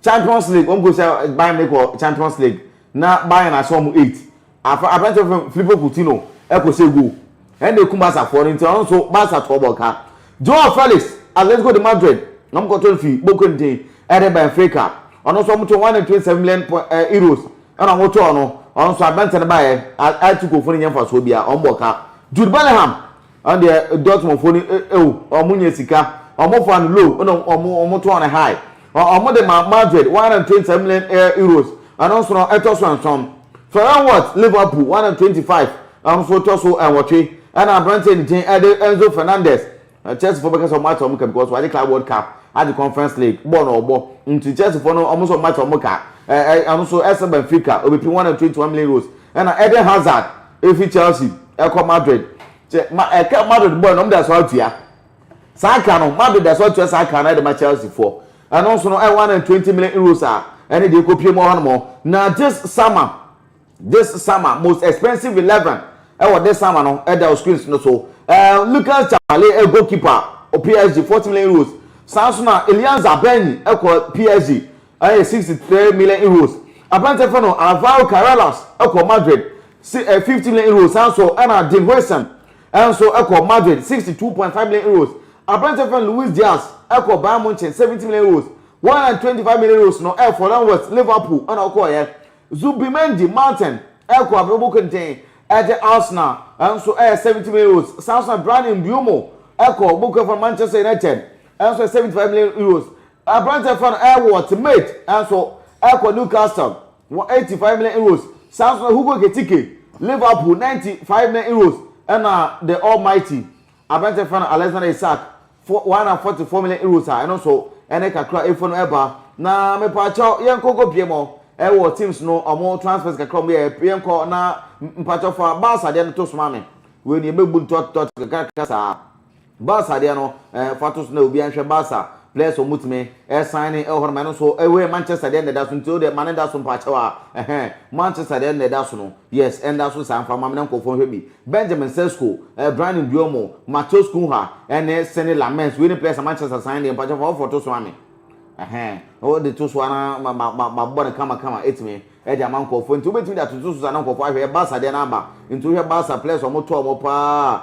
Champions League, wɔn kɔhyia Bayern Munich wɔ Champions League na Bayern ahyɛ wɔn eight. Afa aberante fam Filipo Coutinho kɔhyɛ goal. Ɛna ekum Barca foɔ no nti ɔno nso Barca toɔ bɔ ka. Joao Felix, Atletico de Madrid, wɔn kɔtɔ no fi Boca ntin ɛde Benfica. Ɔno nso wɔn tɔ one hundred twenty seven million po eh, euros ɛna wɔn tɔɔ no. Ɔno nso aberante no baeɛ, Atletico foɔ no nyɛ mfasoɔ biara, wɔn bɔ ka. Jude Bellingham, Ɛndeɛ Dortmund foɔ no ew ɔmo nya sika ɔmo faa no low ɛna ɔmo ɔmo tɔɔ no high ɔmo de maa Madrid one hundred and twenty seven million euros ɛno nso no ɛtɔ so nson Florian Wirtz Liverpool one hundred and twenty five ɛno nso ɛtɔ so nwɔtwe ɛna aberanteɛ ne din ɛde Enzo Fernandez Chelsea foɔ bɛka sɛ ɔmo ate ɔmo ka because wagye Club World Cup agye Conference League bɔɔl na ɔbɔ nti Chelsea foɔ no ɔmo sɛ ɔmo ate ɔmo ka ɛno nso ɛsɛ Benfica obepi one hundred and twenty one million euros ɛna Eden Hazard efi Chelsea kɔ Madrid kyɛ ma ɛka Madrid bɔɔl no wɔn de aso atua saa ka no Madrid de aso atua saa ka no ɛde ma Chelsea foɔ ɛno nso no ɛyɛ one and twenty million euros a ɛne deɛ ekɔ pie mu hɔ nom na this summer this summer most expensive eleven ɛwɔ this summer no ɛda o screens no so ɛɛ Lucas Chale ɛ goalkeeper o PSG forty million euros saa nso na Elianza Benny ɛkɔ PSG Ɛyɛ sixty three million euros. Aberanteɛ fɛ no Alvaro Carreras kɔ Madrid si ɛ fifty million euros san so ɛna Dean Huijsen ɛnso kɔ Madrid sixty two point five million euros. Aberanteɛ fɛ no Luis Diaz kɔ Bayern Munchen seventy million euros. One hundred and twenty five million euros no ɛyɛ Florian Wirtz Liverpool ɛna ɔkɔɔyɛ. Zubimendi Martin ɛkɔ abrabɔ kenten ɛde Arsenal ɛnso ɛyɛ seventy million euros san so na Bryan Mbeumo ɛkɔ Boku Afɔn Manchester United ɛnso ɛyɛ seventy five million euros. Aberanteɛ frɛ no Erwol Temet nso kɔ Newcastle wɔ eighty five million euros, saa nso na Hugo Ekitike, Liverpool, ninety five million euros, ɛna the almighty aberanteɛ frɛ no Alexander Isak, one hundred and forty four million euros a ɛno nso ɛne kakra a ɛfua no ɛba. Na mepaakyɛw yɛnkɔ nkɔ pie mɔ ɛwɔ teams no ɔmo transfers kakra ɔmo yɛɛ, yɛnkɔ na mpaakyɛw fa Barca deɛ no to so ma me, wei no yɛbɛbu no tɔt tɔt kakra kakra saa. Barca deɛ no eh, fa to so na obiara nhwɛ Barca players a wɔtumi eh, sign ne ɛwɔ hɔ no ma ɛno nso eh, wei Manchester deɛ na ɛda so nti wo deɛ ma no nda so mpakyɛw a ɛhɛn Manchester deɛ na ɛda so no yes ɛnda so saa mfa ma me na nkurɔfoɔ nhwɛ bi Benjamin Sesko eh, Bryan Mbeumo Matheus Cunha ɛne Senne Lammens wei ne players a Manchester sign deɛ mpakyɛw fa wɔfoɔ to so ma me ɛhɛn na wɔde to so a na ma ma ma ma bɔ no kama kama ɛtumi de ama nkurɔfoɔ nti wobɛtumi de atoto so saa na nkurɔfoɔ ahwɛ Barca deɛ no aba nti wohwɛ Barca players a wɔtɔɔ wɔn paa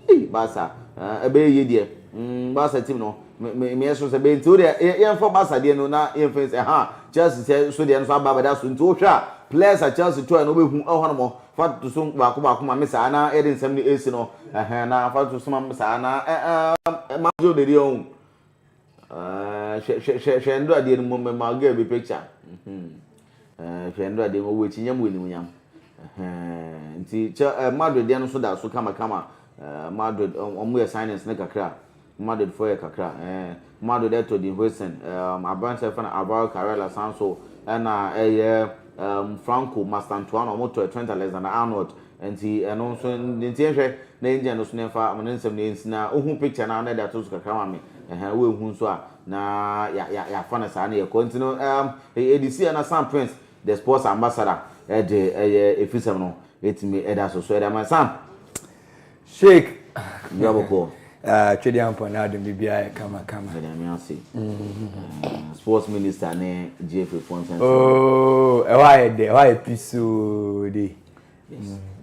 ei Barca eh, ɛbɛyɛ yie deɛ mm, Barca team no me me meɛ so sɛ bɛyɛ nti wodeɛ yɛ- yɛmfa Barca deɛ no na yɛmfa nsi ɛha Chelsea sɛ so deɛ no so aba abɛda so nti wohwɛ a players a Chelsea tɔɛ no wobɛhu ɛhɔ nom fa toto so baako baako ma me saa na yɛde nsɛm no ɛsi no ɛhɛn na fa toto so ma me saa na ɛ- ɛm, ɛma gye wo dedeɛ ɔhu Ahh hwɛ hwɛ hwɛ hwɛ Ndoradeɛ no mmom mema girl bi picture mhm ɛɛ hwɛ Ndoradeɛ ma w'akyinya mu animuonyam ɛhɛɛɛ nti kyɛ ɛɛ Madrid deɛ no nso da so kama kama ɛɛ Madrid wɔn yɛ signings no kakra Madrid foɔ yɛ kakra ɛɛ Madrid ɛtɔ din Huijsen ɛɛm aberanteɛ yɛfrɛ no Alvaro Carrera san so ɛna ɛyɛ ɛɛm Franco Mastantuano wɔn tɔ Trent Alexander-Arnold Nti ɛno nso nti yɛnhwɛ na yɛngya no so na yɛmfa ne nsɛm no yɛnsi na wohu picture no a na ɛde ato so kakra ma me ɛhɛn woanhu nso a na yɛafa no saa na yɛkɔ nti no ɛɛm ɛde si a na Sam Prince the sports ambassador ɛde ɛyɛ ɛfisɛm no ɛtumi ɛda so so ɛde ama Sam Sheikh dwa bɔkɔɔ ah, Twɛdeɛ ampɔ na adom bibia yɛ kama kama ɛde ame ase mm-hmm. sports minister ne GFA fo nsɛnsɛm oh, ɛhɔ ayɛ dɛ ɛhɔ ayɛ pisoo de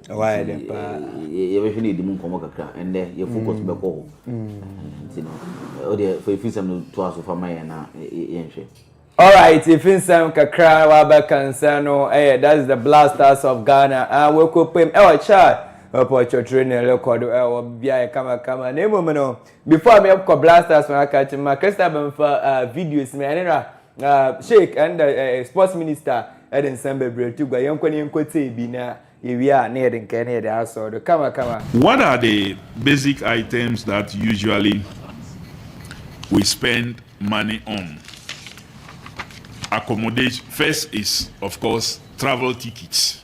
yɛbɛhwɛne ɛdi mu nkɔmmɔ kakra ɛndɛ yɛ focus mm. bɛkɔ hɔ mm. nti no wodeɛ fa ɛfiri sɛm no toa so fa ma yɛn na yɛnhwɛ Alright, ɛfiri nsɛm kakra wabɛka nsɛm no ɛyɛ that's the blasters of Ghana a wɔkɔpam ɛwɔ Chad ɔpɔtwɔtwere ne rekɔ do ɛwɔ beaeɛ kamakama na mmom no before mekɔ blasters no aka kyema Christabel mfa videos me ɛne no a Ah Sheik ɛnda eh, eh, sports minister ɛde nsɛm bebree to gua yɛnkɔ ne yɛnkɔ tie bi na yɛwie a na yɛde nkɛɛ na yɛde asɔ do kama kama. What are the basic items that usually we spend money on? Accommodation first is of course travel tickets.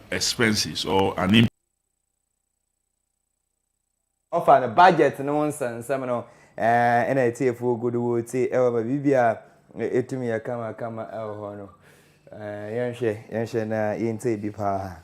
expenses or an in. Ɔfa no budget no ho nsɛnsɛm no ɛɛ ɛna atiefoɔ gu do wɔretie ɛwɔ ma biribiara ɛtumi yɛ kama kama ɛwɔ hɔ no ɛɛ yɛnhwɛ yɛnhwɛ na yɛntie bi paa.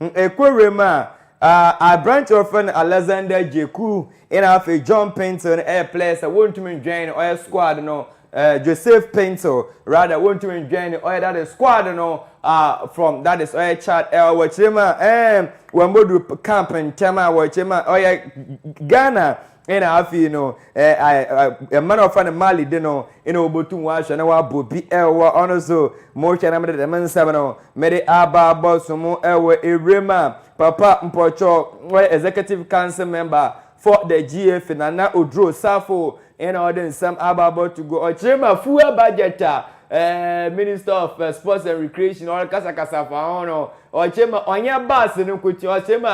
Ɛkɔ wiem a, aberante a wɔfrɛ no Alexander Dzeku na afei John Paintsil no yɛ players sɛ wɔntumi ndwɛn no ɔyɛ squad no Joseph Paintsil rather wɔntumi ndwɛn no ɔyɛ that is squad no from that is ɔyɛ Chad ɛwɔ wɔkyerɛ mu a ɛɛm wɔn bɔduru camp ntɛm a wɔkyerɛ mu a ɔyɛ Ghana Nna afei no, mma na ɔfa no Marley de no, nna obotum ɔahwɛ na ɔabɔ bi wɔ ɔno so. Mohwɛ na mede dɛm nsɛm no mede aba abɔsom wɔ ewura mu a, Papa Mpɔkyɔɔ, ɔyɛ Executive Council Member for the GAFI, Nana Oduro Sarfo, nna ɔde nsɛm aba abɔto gua. Ɔkyerɛ mu a, fuel budget a Minister of Sports and Recreation ɔrekasakasa fa ho no, ɔkyerɛ mu a, ɔnnyɛ bus no nkotsee, ɔkyerɛ mu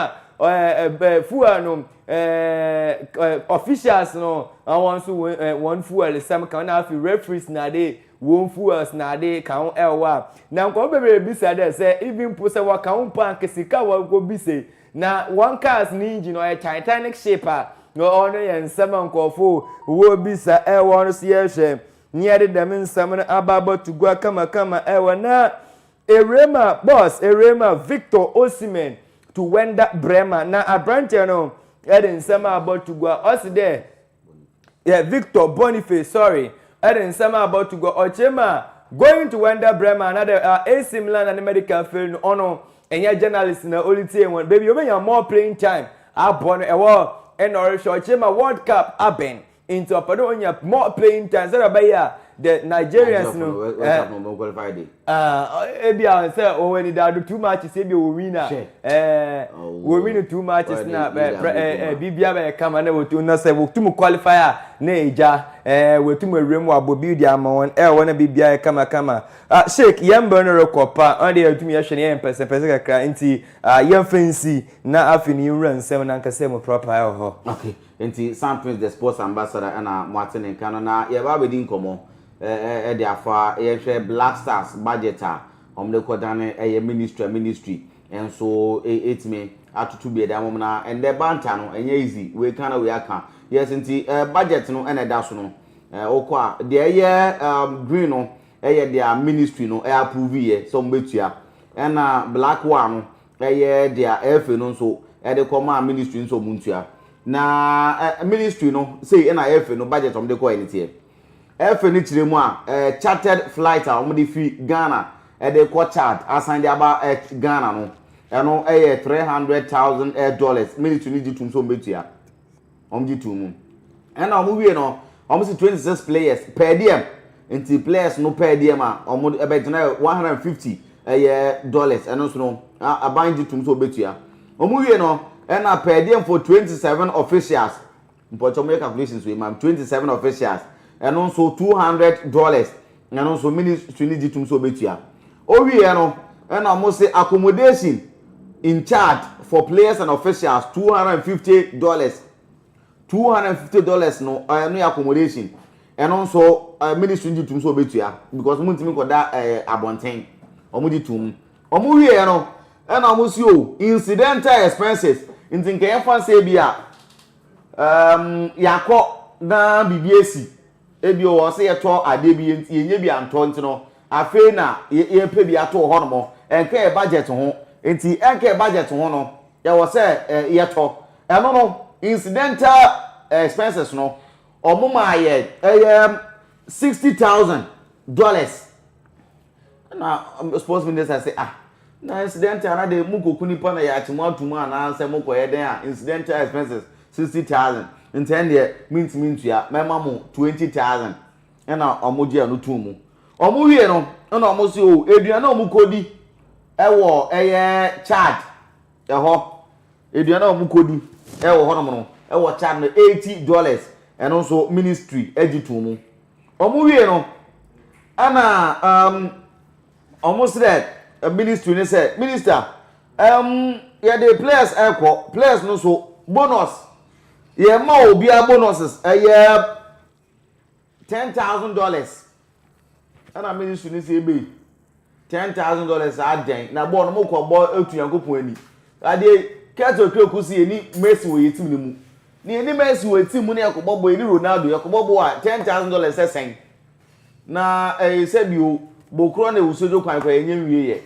a, fuel no, Eh, eh, officials no na wɔn nso wɔn eh, wɔn fuel sɛm kan na afei referees na de wɔn fuels na de kan ho ɛwɔ a na nkɔmɔ bebree bisa dɛ sɛ even po sɛ wɔka ho mpo anka sika wɔkɔ bisa yi na wɔn cars ne engine no ɔyɛ titanic ship a na ɔno yɛ nsɛm a nkɔfo wɔbisa ɛwɔ no so yɛhwɛ ne yɛde dɛm nsɛm no aba abɔto gua kamakama ɛwɔ na Arema boss Arema Victor Osimhen to Wenda Brema na aberanteɛ no de nsɛm a abɔ to gua ɔse dɛ yɛ Victor Boniface sorry de nsɛm a abɔ to gua ɔkyerɛ mu a going to Wenda Brema na dɛ AC Milan na ne medical fail no ɔno ɛnyɛ journalist na ɔretie wɔn baabi ɔbɛnya more playing time abɔ no ɛwɔ ɛna ɔrehwɛ ɔkyerɛ mu a World Cup abɛn Nti ɔpɛ dɛ onya more playing time sɛdeɛ ɔbɛyɛ a the Nigerians no ebi a sɛ wɔn ani da do too matches ebi wɔ win a wɔ win too matches na biribia bɛyɛ kama na wɔtu na sɛ wɔtum qualify a na egya wɔtum awura mu abɔ bi de ama wɔn ɛwɔ hɔ na biribia yɛ kama kama sheik yɛn mbrɛ no rekɔ pa ɔno deɛ yɛtum yɛhwɛ no yɛyɛ mpɛsɛmpɛsɛ kakra nti yɛmfa nsi na afei no yɛnwura nsɛm no ankasa mu proper ɛwɔ hɔ. Enti San Prince de Sports Ambassador ɛna moate ne nka no na yɛreba abɛdi nkɔmmɔ ɛde afa yɛhwɛ Black Stars budget a wɔde kɔdane ɛyɛ ministry a ministry nso ɛtumi atoto bi ɛde ama wɔn na ɛndɛ banta no ɛnyɛ easy wei ka na wei aka yes nti budget no ɛna ɛda so no wokɔ a deɛ ɛyɛ green no ɛyɛ deɛ ministry no ɛapprove yɛ sɛ wɔn bɛtua ɛna black one no ɛyɛ dea ɛfei no nso ɛde kɔ maa ministry nso ɔmo ntua na ɛ ministry no sei ɛna ɛfei no budget ɔmo de kɔ ɛne teɛ ɛfei no kyerɛ mu a ɛ chartered flight a ɔmo de fi Ghana ɛde kɔ Chad asan de aba ɛ Ghana no ɛno ɛyɛ three hundred thousand ɛ dollars ministry no gye tum so ɔmo bɛtua. wɔn gye too mu ɛna wɔn wie no wɔn si twenty six players per diem nti players no per diem a wɔn ɛbɛgyina yɛ one hundred and fifty ɛyɛ dollars ɛno nso no aban gye tom so obetua wɔn wie no ɛna per diem for twenty seven officials mpɔkyɛ wɔn yɛ calculations wei ma twenty seven officials ɛno nso two hundred dollars na ɛno nso ministry no gye tom sɛ ɔbɛtua ɔwieɛ no ɛna ɔmo se accommodation in charge for players and officials two hundred and fifty dollars two hundred and fifty dollars no ɛno yɛ accommodation ɛno nso ɛɛ ministry no gye tom sɛ ɔbɛtua because ɔmo ntumi nkɔda ɛɛ abɔnten ɔmo gye tom ɔmo wieɛ no ɛna ɔmo se o incidental expenses nti nkɛyɛ fa sɛ bi a ɛɛm yakɔ na biribi esi. Ebia ɔwɔ sɛ yɛtɔ adeɛ bi, yɛn yɛnnya bi antɔ nti no, afei na yɛpɛ bi ato hɔ nom. Ɛnka yɛn budget ho. Nti ɛnka yɛn budget ho no, ɛwɔ sɛ yɛtɔ. Ɛno no, incidental expenses no, wɔmaa yɛn ɛyɛ sixty thousand dollars. Ɛna sports minister se ah na incident a na de mo kɔ ku nipa na yɛakye mo ato mu anaa sɛ mo kɔ yɛ dɛn a incidental expenses sixty thousand nti ɛndeɛ mentumi ntua mɛma mo twenty thousand ɛna wɔn gye ɛno too mu wɔn wie no ɛna wɔn se o oh, aduane a wɔn kɔdi ɛwɔ ɛyɛ Chad ɛhɔ aduane a wɔn kɔdi ɛwɔ hɔnom no ɛwɔ Chad no eighty dollars ɛno nso ministry agye too mu. Wɔn wie no ɛna um, wɔn srɛ eh, ministry ne sɛ minister um, yɛde players ɛkɔ players no so bonus yɛma obiara bonuses ɛyɛ ten thousand dollars ɛna ministry ne sɛ ebe Ten thousand dollars saa dɛn na bɔɔl no mo kɔ bɔ etu Nyankopɔn ani. Adeɛ Kurt Okraku si yɛni Messi wɔ yɛ team no mu. Na yɛni Messi wɔ team mu na yɛkɔ bɔ bɔ yɛni Ronaldo yɛkɔ bɔ bɔ a ten thousand dollars sɛ sɛn. Na ɛɛ sɛbi o Bokurɔ na Ewusodwo kwan kɔ yɛnyɛ nwie yɛ.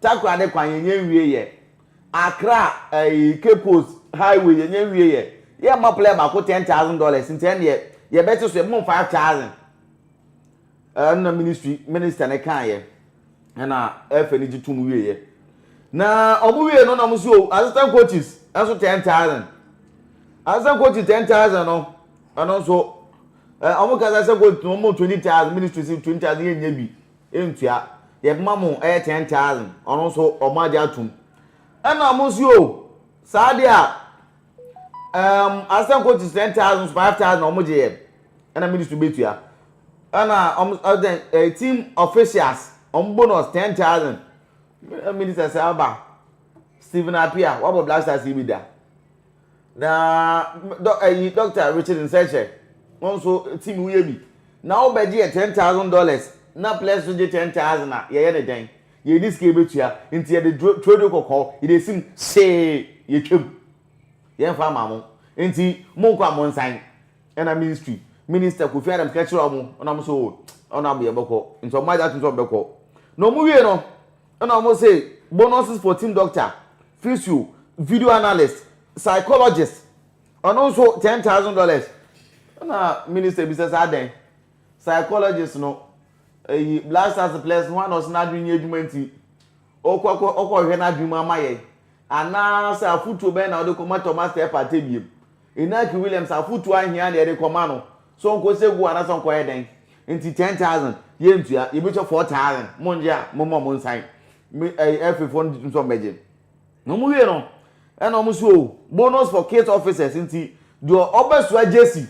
Takorade kwan yɛnyɛ nwie yɛ. Accra ɛɛ Cape Coast highway yɛnyɛ nwie yɛ. Yɛmma player baako ten thousand dollars nti ɛneɛ yɛbɛte so yɛbɛma five thousand. Ɛna ministry minister no kaeɛ ɛna ɛfɛ no gye tom wieɛ na ɔmo wie no na ɔmo so assistant coaches ɛnso ten thousand assistant coaches ten thousand no ɛno nso ɛ ɔmo kasa assistant coaches no ɔmo twenty thousand ministry si twenty thousand yɛn nyɛ bi ntua yɛ bɛma mo ɛyɛ ten thousand ɔno nso ɔmo agye atum ɛna ɔmo so saa deɛ a. um assistant coaches ten thousand five thousand na wɔn gye yɛ ɛna ministry betua ɛna wɔn ɛdɛn ɛyɛ team officials wɔn bonus ten thousand minister sɛ aba stephen apia wabɔ black stars yi bi da na dɔ ɛyi doctor richard nsɛkyɛ wɔn nso team woyɛ bi na wɔbɛgye yɛ ten thousand dollars na players nso gye ten thousand a yɛyɛ ne dɛn Yɛnni sika a yɛbɛtua, enti yɛde twerɛdua kɔkɔɔ, yɛde asi mu see yɛtwam. Yɛmfa mma mo. Enti monkɔ a monsan. Ɛna ministry minister Kofi Adams ka kyerɛɛ wɔn, ɛna wɔn so o, ɛna wɔn yɛbɛkɔ. Nti wɔn agya atum sɛ wɔbɛkɔ. Na wɔn wie no, ɛna wɔn se bonuses for team doctor, physio, video analyst, psychologist, ɔno nso ten thousand dollars. Ɛna minister bisa sɛ adɛn? Psychologist no, eyi, Blasius Ples, ho a na ɔse n'adwene nyɛ adwuma nti, ɔkɔ kɔ, ɔkɔhwehwɛ n'adwene mu ama yɛn? Anaasɛ afotuo bɛn na ɔde kɔma Thomas Telford Tebiem? Inaki Williams, afotuo ahia na yɛde kɔma no, sɛ ɔnkɔsɛ gu anaasɛ ɔnkɔyɛ dɛn? Nti, ten thousand, yɛntua, yɛbɛtua four thousand, mongye a, momma ɔmo nsan, me, ɛyi, ɛfefoɔ no nso ɔmo bɛgye. Na wɔn wie no, ɛna wɔn so o, bonus for kids officers nti, deɛ ɔbɛsoa jersey,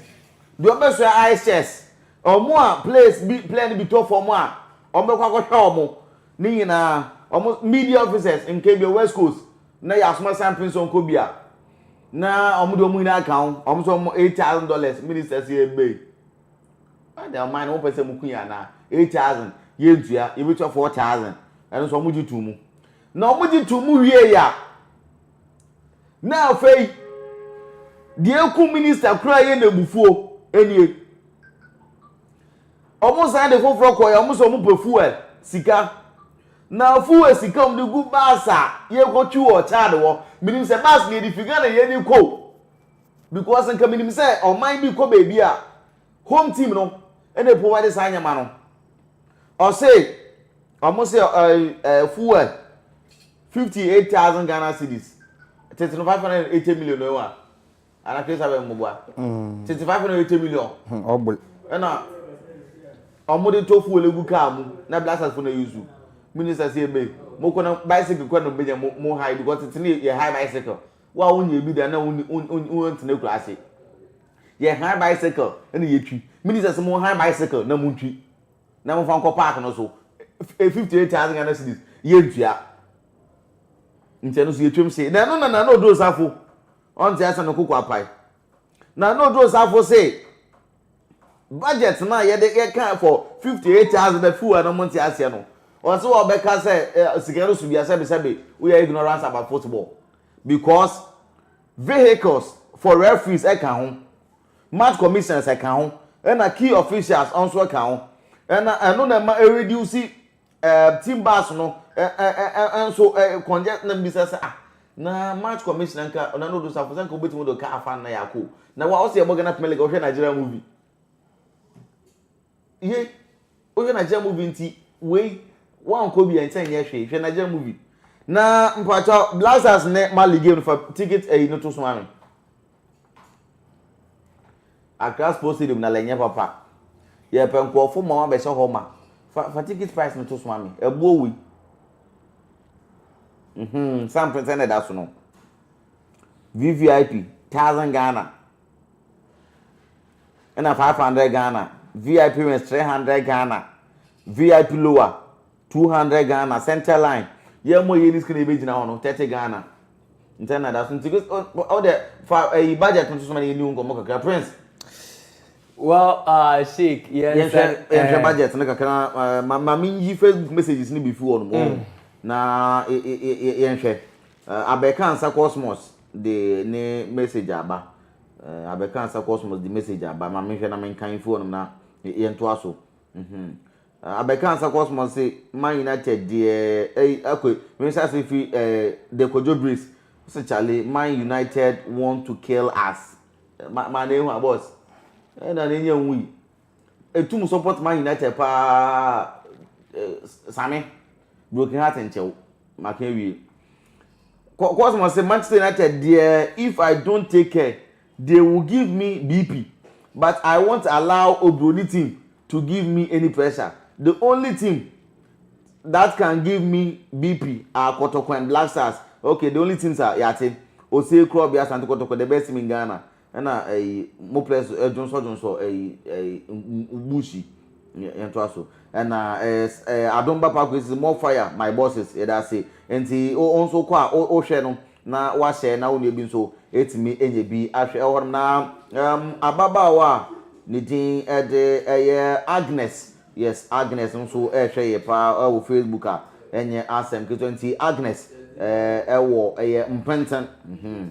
deɛ ɔbɛsoa ice chest, wɔn a players bi player no bi tɔ fam a, wɔbɛkɔ akɔhwɛ wɔn, ne nyinaa, wɔn media officers, nka bi west coast, na yɛasoma san pinso nkɔ bi a, na wɔn de wɔn nyinaa ka ho, wɔn so wɔn eight thousand dollars, minister si ebe yi. Ɛna ɔman no, wɔpɛ sɛ wɔku yɛn anaa, eight thousand, yɛntua, yɛbɛtua four thousand, ɛno nso wɔn gye to mu. Na wɔgye too mu wiei a, na afei deɛ ekum minista koraa yɛ n'abufuo nie. Wɔn san de foforɔ kɔɛ a, wɔn sɛ wɔn pɛ fuel sika. Na fuel sika wɔn de gu bus a yɛkɔ twi wɔ Chad hɔ. Minim sɛ bus na yɛde fi Ghana na yɛde kɔ o. Because nka minim sɛ ɔman bi kɔ baabi a, home team no ɛna provide saa nneɛma no. Ɔse. Ɔmo se fuel fifty eight thousand Ghana cedis tete no five hundred and eighty million no wa ana kesa bɛ mmoboa mm. tete five hundred and eighty million hmm, ɔbol ɛna ɔmo de tɔ fuel egu kaa mu na blasters fo na yusu minister se ebe mo kɔ na bicycle kɔ na mo benya mo mo high because tete ne yɛ high bicycle wa a wonye ebi da na wonni wontena kura ase yɛ high bicycle ɛna yɛtwi minister se mo high bicycle na mo ntwi na momfa nkɔ park no so, eh, 58,000 Ghana cedis, yɛntua. Nti ɛno so yɛtwam se, na ɛno na Nana Odo Osafo, ɔnte ase no koko apae. Nana Odo Osafo se, budget no a yɛde yɛka for 58,000 na few a na wɔnte aseɛ no, ɔse wɔbɛka sɛ eh, sika no so bia sɛbesɛbe woyɛ ignorance about football because vehicles for referees ɛka ho, Mart commissions ɛka ho ɛna key officials nso ɛka ho ɛna ɛno na ɛma ɛreduce ɛɛ eh, team bus no ɛɛ eh, ɛɛ eh, nso ɛɛ congest na mbisa sɛ ah na Mart commissioner nka ɔna no do safo sɛ nka obetumi do ka afa na yako na wa ɔsɛ ɛbɔ Ghana Premier League ɔhwɛ Nigeria movie. Ye wo hwɛ Nigeria movie nti wei wankɔ bi ɛnkyɛ nyɛ hwee hwɛ Nigeria movie na mpakyɛ Black Stars ne Mali game no fa ticket ɛyi no to so ma me Accra Sports Stadium na lɛ nyɛ papa yɛ pɛ nkurɔfo ma wɔn abɛhyɛ hɔ ma fa fa ticket price no to so ma me ɛboɔ wei mhm sample sɛ na ɛda so no VVIP thousand Ghana. Ɛna five hundred Ghana, VIP wings three hundred Ghana, VIP lower two hundred Ghana, center line. Yɛn mo yɛ ni skin ebe gyina hɔ no thirty Ghana. Ntɛ na da so nti o de fa ɛyi budget no soso ma yɛ ni nkɔmɔ kakra prince. Well, uh, Sheik, yes. Yɛn hwɛ yɛn hwɛ budget no kakra ma ma mi yi Facebook messages ni bi fi hɔ no mo. Na yɛn hwɛ abɛka nsa cosmos. de ne message aba eh, abɛka asa cosmos de message aba ma mehwɛ na menka mfi hɔnom na yɛntoa so mhm eh, abɛka asa cosmos se man united deɛ ɛyi eh, akɔ mehyɛ ase fi eh, de kɔdwo breeze sɛ chale man united want to kill us eh, ma ma na ehu a boss ɛna eh, na enye nwui. Etum support Man United paa eh Same broken heart nkyɛ wo maka awie. Kɔ Cosmo se Manchester United deɛ if I don't take care they will give me BP but I won't allow Obroni team to give me any pressure the only team that can give me BP are Kotoko and Black Stars okay the only teams are yate Osei Krobi Asante Kotoko the best team in Ghana ɛna ɛyi mo pɛ so ɛdwonsɔdwonsɔ ɛyi ɛyi mbushi yɛn to aso ɛna ɛɛ ɛɛ adom ba paako esi more fire my bosses yɛda ase nti o nso kɔ a o ohwɛ no na wahyɛ na onua bi nso etumi enye bi ahwɛ ɛwɔ hɔ na ɛm ababaawa a ne din ɛde ɛyɛ Agnes yes Agnes nso ɛɛhwɛ yɛ paa ɛwɔ Facebook a ɛnyɛ asɛm ketewa nti Agnes ɛɛ ɛwɔ ɛyɛ mpɛntɛn mhm.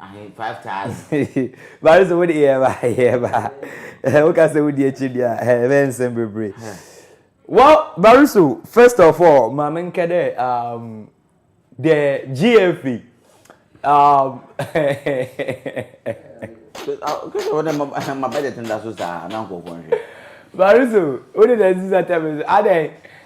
ahe five thousand. bari sɛ wode yɛ ba yɛ ba woka sɛ wodi akyi deɛ a ɛbɛyɛ nsɛm bebree well bari so first of all ma menkɛ dɛ um, the gfa um, kɛsɛ wode ma budget nda so saa na nkɔfoɔ nhwɛ bari so wode na ɛsi sa tɛme so adɛn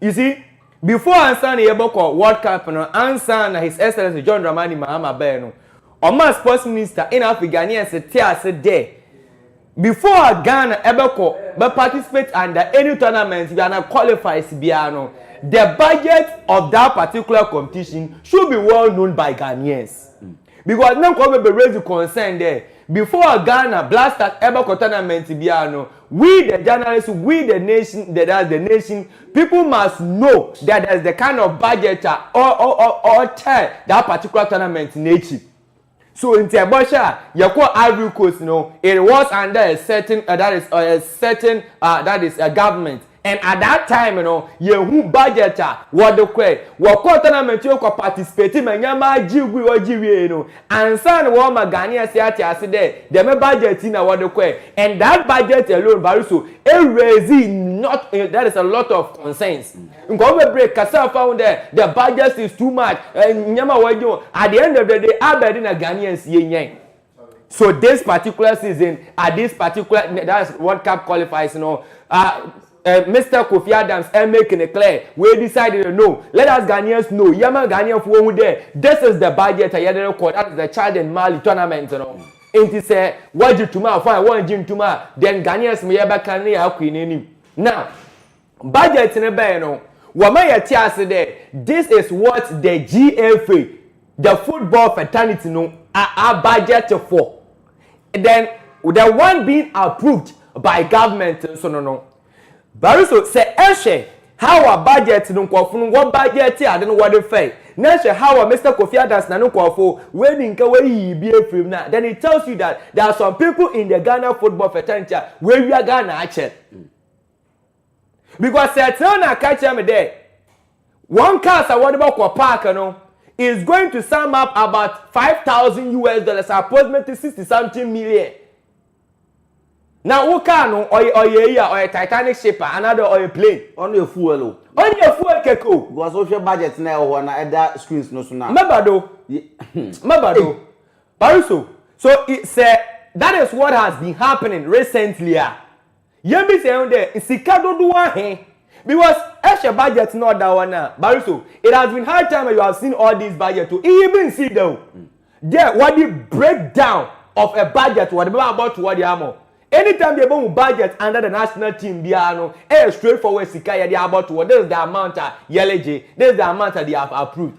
You see, before ansa na yɛbɛkɔ World Cup no, ansa na His Excellency John Dramani Mahama bɛɛ no, ɔma sports minister ɛna afei Ghanaians te ase dɛ before Ghana ɛbɛkɔ bɛ participate under any tournament bi ana qualifies biara no, the budget of that particular competition should be well known by Ghanaians. Because na nkorɔfo bebree redzi concern dɛ before Ghana Blackstars bɛkɔ tournament biara no, we the journalists, we the nation, the that's the nation people must know that there is the kind of budget a ɔ ɔ ɔ ɔkyɛ that particular tournament n'ekyir. So ntsi ebɔhwɛ a, yɛkɔɔ Ivory Coast no, it was under a certain uh, that is uh, a certain uh, that is a government. And at that time no, yehu budget a wɔde kɔe. Wɔkɔɔ tournament no kɔ participate ma nyɛmaa gye gui, wɔgye wiei no, ansa na wɔrema Ghanaians ate ase dɛ dɛm budget yi na wɔde kɔe. And that budget alone, Bariso, e raisee not, that is a lot of concerns. Nkorɔfo bebree kasaa faa ho dɛ the budget is too much, nyɛma a wɔagye no, at the end of the day, abɛn de na Ghanaians yɛnyae? so this particular season at this particular that's world cup qualifiers you know uh, uh, mr kofi adams and making it clear we decided to know let us ghanaians know yama ghanaian for who there this is the budget a yɛde record that is the chad and mali tournament you know nti sɛ wɔgye tuma fine wɔngye ntuma then ghanaians mo yɛbɛka ne yɛ akɔ n'anim now Budget no bae no, wɔma yɛtse ase dɛ this is what the GFA, the football fraternity no abudget for, then the one being approved by government nso no no. Bariso, sɛ ehwɛ how a budget no nkorɔfo no wɔ budgete ade no wɔde fae, na ehwɛ how a Mister Kofi Adams na no nkorɔfo woenyi nka woeyiyi bi efir mu no a, then it tells you that there are some people in the Ghana football fraternity a woewia Ghana akyɛr. because sɛ tena na aka kyerɛ me dɛ wɔn cars a wɔde bɛkɔ park no is going to sum up about five thousand us dollars approximately sixty something million na wo car no ɔyɛ ɔyɛ yi a ɔyɛ titanic ship a anadɔ ɔyɛ plane ɔno yɛ fuel o ɔno yɛ fuel keke o because wohwɛ budget na ɛwɔ hɔ na ɛda screens no so na mɛba do mɛba do pariso so sɛ that is what has been happening recently a Yɛbisa yɛn ho dɛ, sika dodow ahe? Because ehwɛ budget na ɔda hɔ no a, Bariso, it has been high time you have seen all these budget o, iyi bi nnsii da o, dɛ wɔde break down of a budget wɔde bɛba abɔto hɔ de ama wo. Anytime bi a yɛbɛhu budget under the national team biara no, ɛyɛ straightforward sika a yɛde abɔto hɔ, this is the amount a yɛregye, this is the amount a they have approved.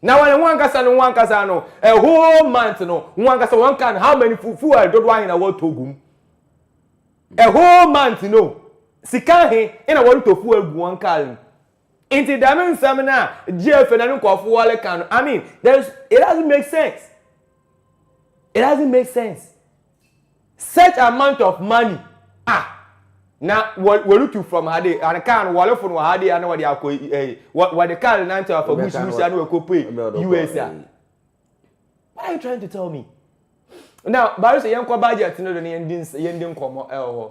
Na wɔn wɔn ankasa no wɔn ankasa no a whole month no wɔn ankasa wɔn kan how many fuel fuel dodo ahe na wɔtɔ gum a whole month no sika ahe na wɔtɔ fuel gu wɔn car mu nti dɛm nsɛm no a gyeefe na ne nkɔfo wɔreka no i mean there is it doesn't make sense it doesn't make sense. Such amount of money ah na wɔretu from ha de and car no wɔrefo no wɔ ha de ana wɔde akɔ eh wɔde car no nantew afa bush bush ana wɔkɔ pue us a what are you trying to tell me now barisa yɛn kɔ budget no do ne yɛn di yɛn di nkɔmɔ ɛwɔ hɔ.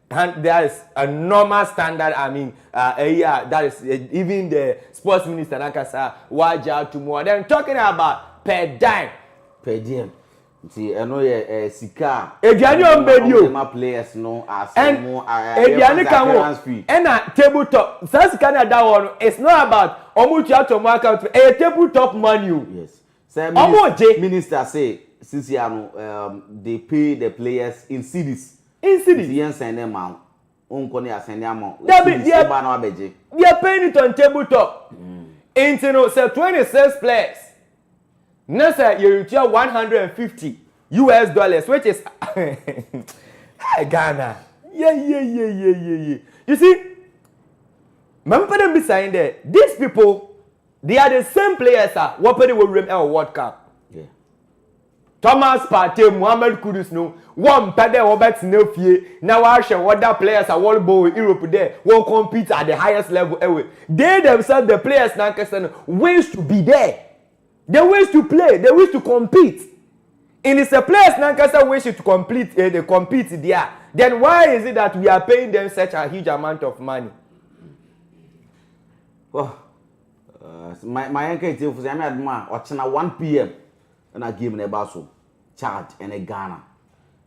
And that is a normal standard I mean uh, uh, yeah, that is uh, even the sports minister Nakasa Waja Tumua. Then talking about per dime. Per diem. nti ɛno yɛ ɛɛ eh, sika a. aduane wɔn bɛ di o ɛma players no ase mo aduane ka ho ɛna table top saa sika na ɛda hɔ no it's not about wɔn tua to wɔn account ɛyɛ table top money o. yes sɛ minister minister say sisi ano um, they pay the players in cedis. Nsi bi. Nti yɛn sɛn ne mma wo nkɔ ne yɛasɛn de ama wo. Dabi, deɛ. Nsi ba na wabɛgye. Deɛ pay ne tɔn table top. Nti no sɛ twenty six players na sɛ yɛretua one hundred and fifty US dollars which is hey Ghana yeyeyeyeye you see maame pɛ dɛ mbisa yɛn dɛ these people they are the same players a wɔpɛ dɛ wɔwura mu ɛwɔ world cup. Thomas Partey, Mohammed Kudus no wɔmmpɛ dɛ wɔbɛtsena fie na wɔahwɛ other players a wɔrobɔ wɔ Europe dɛ wɔ compete at the highest level ewe. They themselves, the players nankasa no, wins to be there. They wins to play, they wins to compete. Nd sɛ players nankasa wish to complete, eh, they compete deɛ a, then why is it that we are paying them such a huge amount of money? Wah, uh, ma yɛnka atiefo sɛ nyame adom a ɔkyena 1 pm Ɛna game no ɛba so Chad ne Ghana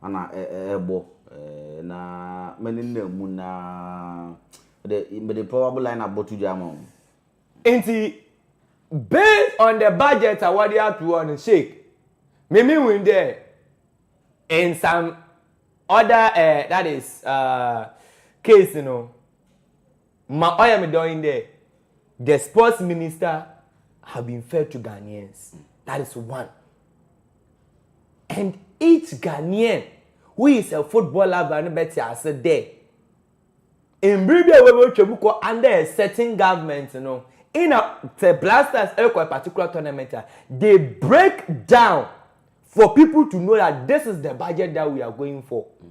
ɛna ɛrebɔ ɛɛ na menenam mu naa mede mede probable line up bɔto dwa ama wɔn. Nti based on the budget a wɔde ato hɔ no Sheikh me me hu dɛ in some other ɛɛ that is ɛɛ case no Ma ɔyɛ me dɔ yi dɛ the sports minister have been fair to Ghanaians that is one and each Ghanaian who is a football lover no bɛte ase dɛ mbere bi a wɔbɛtwa mu kɔ under a certain government no in a sɛ blasters ɛkɔ a particular tournament a they break down for people to know that this is the budget that we are going for. Mm.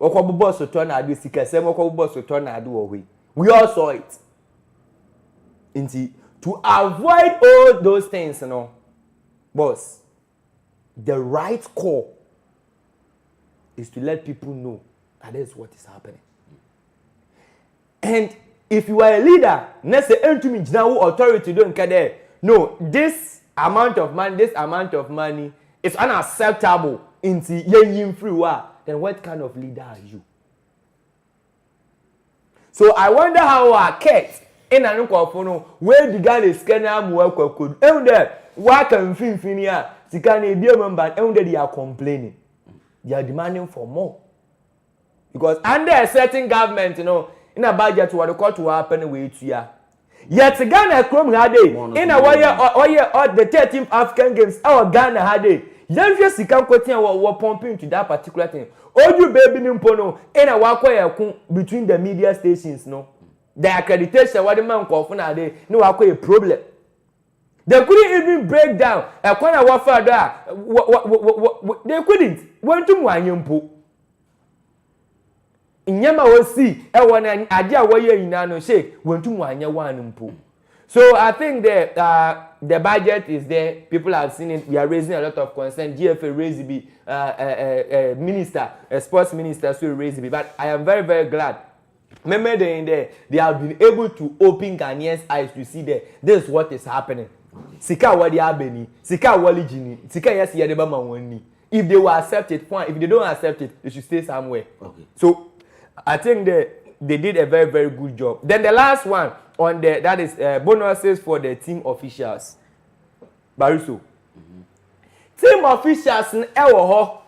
Wɔkɔbobɔ sotɔɔ no ade, sikasɛm, wɔkɔbobɔ sotɔɔ no ade wɔ hɔ yi, we all saw it. Nti, to avoid all those things no, boss, the right call is to let people know that this is what is happening. And if you are a leader na sɛ entumi ngyina wo authority do nka dɛ no this amount of money this amount of money is unacceptable ntsi yenyi mfir hɔ a then what kind of leader are you? So I wonder how a Kurt na no nkorɔfo no woedi Ghana sika no ara mu akɔ akodu. Ehu dɛ wɔaka mfinimfin a sika no ebia mu mba no, ehu dɛ they are complaining, they are demanding for more. Because under a certain government no, na budget wɔde kɔto hɔ apɛ na wɔatua. Yet Ghana kurom ha dei, na wɔyɛ ɔyɛ the thirteenth African games ɛwɔ Ghana ha dei. Yɛnhwɛ sika nkotin a wɔ wɔ pump into that particular thing. Odu baabi no mpo no, na wɔakɔyɛ ɛko between the media stations no. The accreditation a wɔde ma nkurɔfo na ade, na wɔakɔyɛ problem. They couldn't even break down ɛkwan a wɔfaa do a wɔ wɔ wɔ wɔ wɔ they couldn't wɔntum wɔanyɛ mpo. Nneɛma a osii ɛwɔ na ade a wɔyɛ nyinaa no hyɛ wɔntum wɔanyɛ one mpo. So I think the uh, the budget is there people have seen it we are raising a lot of concern GFA raise bi uh, uh, uh, uh, minister uh, sports minister so raise bi but I am very very glad Mɛmɛ dɛn dɛ they have been able to open Ghanaians eyes to see dɛ this is what is happening. Sika a wɔde aba ni, sika a wɔregye ni, sika a yɛse yɛde bɛma wɔn ni. If they will accept it, fine, if they don't accept it, they should stay somewhere. Okay. So I think that they did a very very good job. Then the last one on the that is uh, bonuses for the team officials. Bariso. Mm-hmm. Team officials ɛwɔ hɔ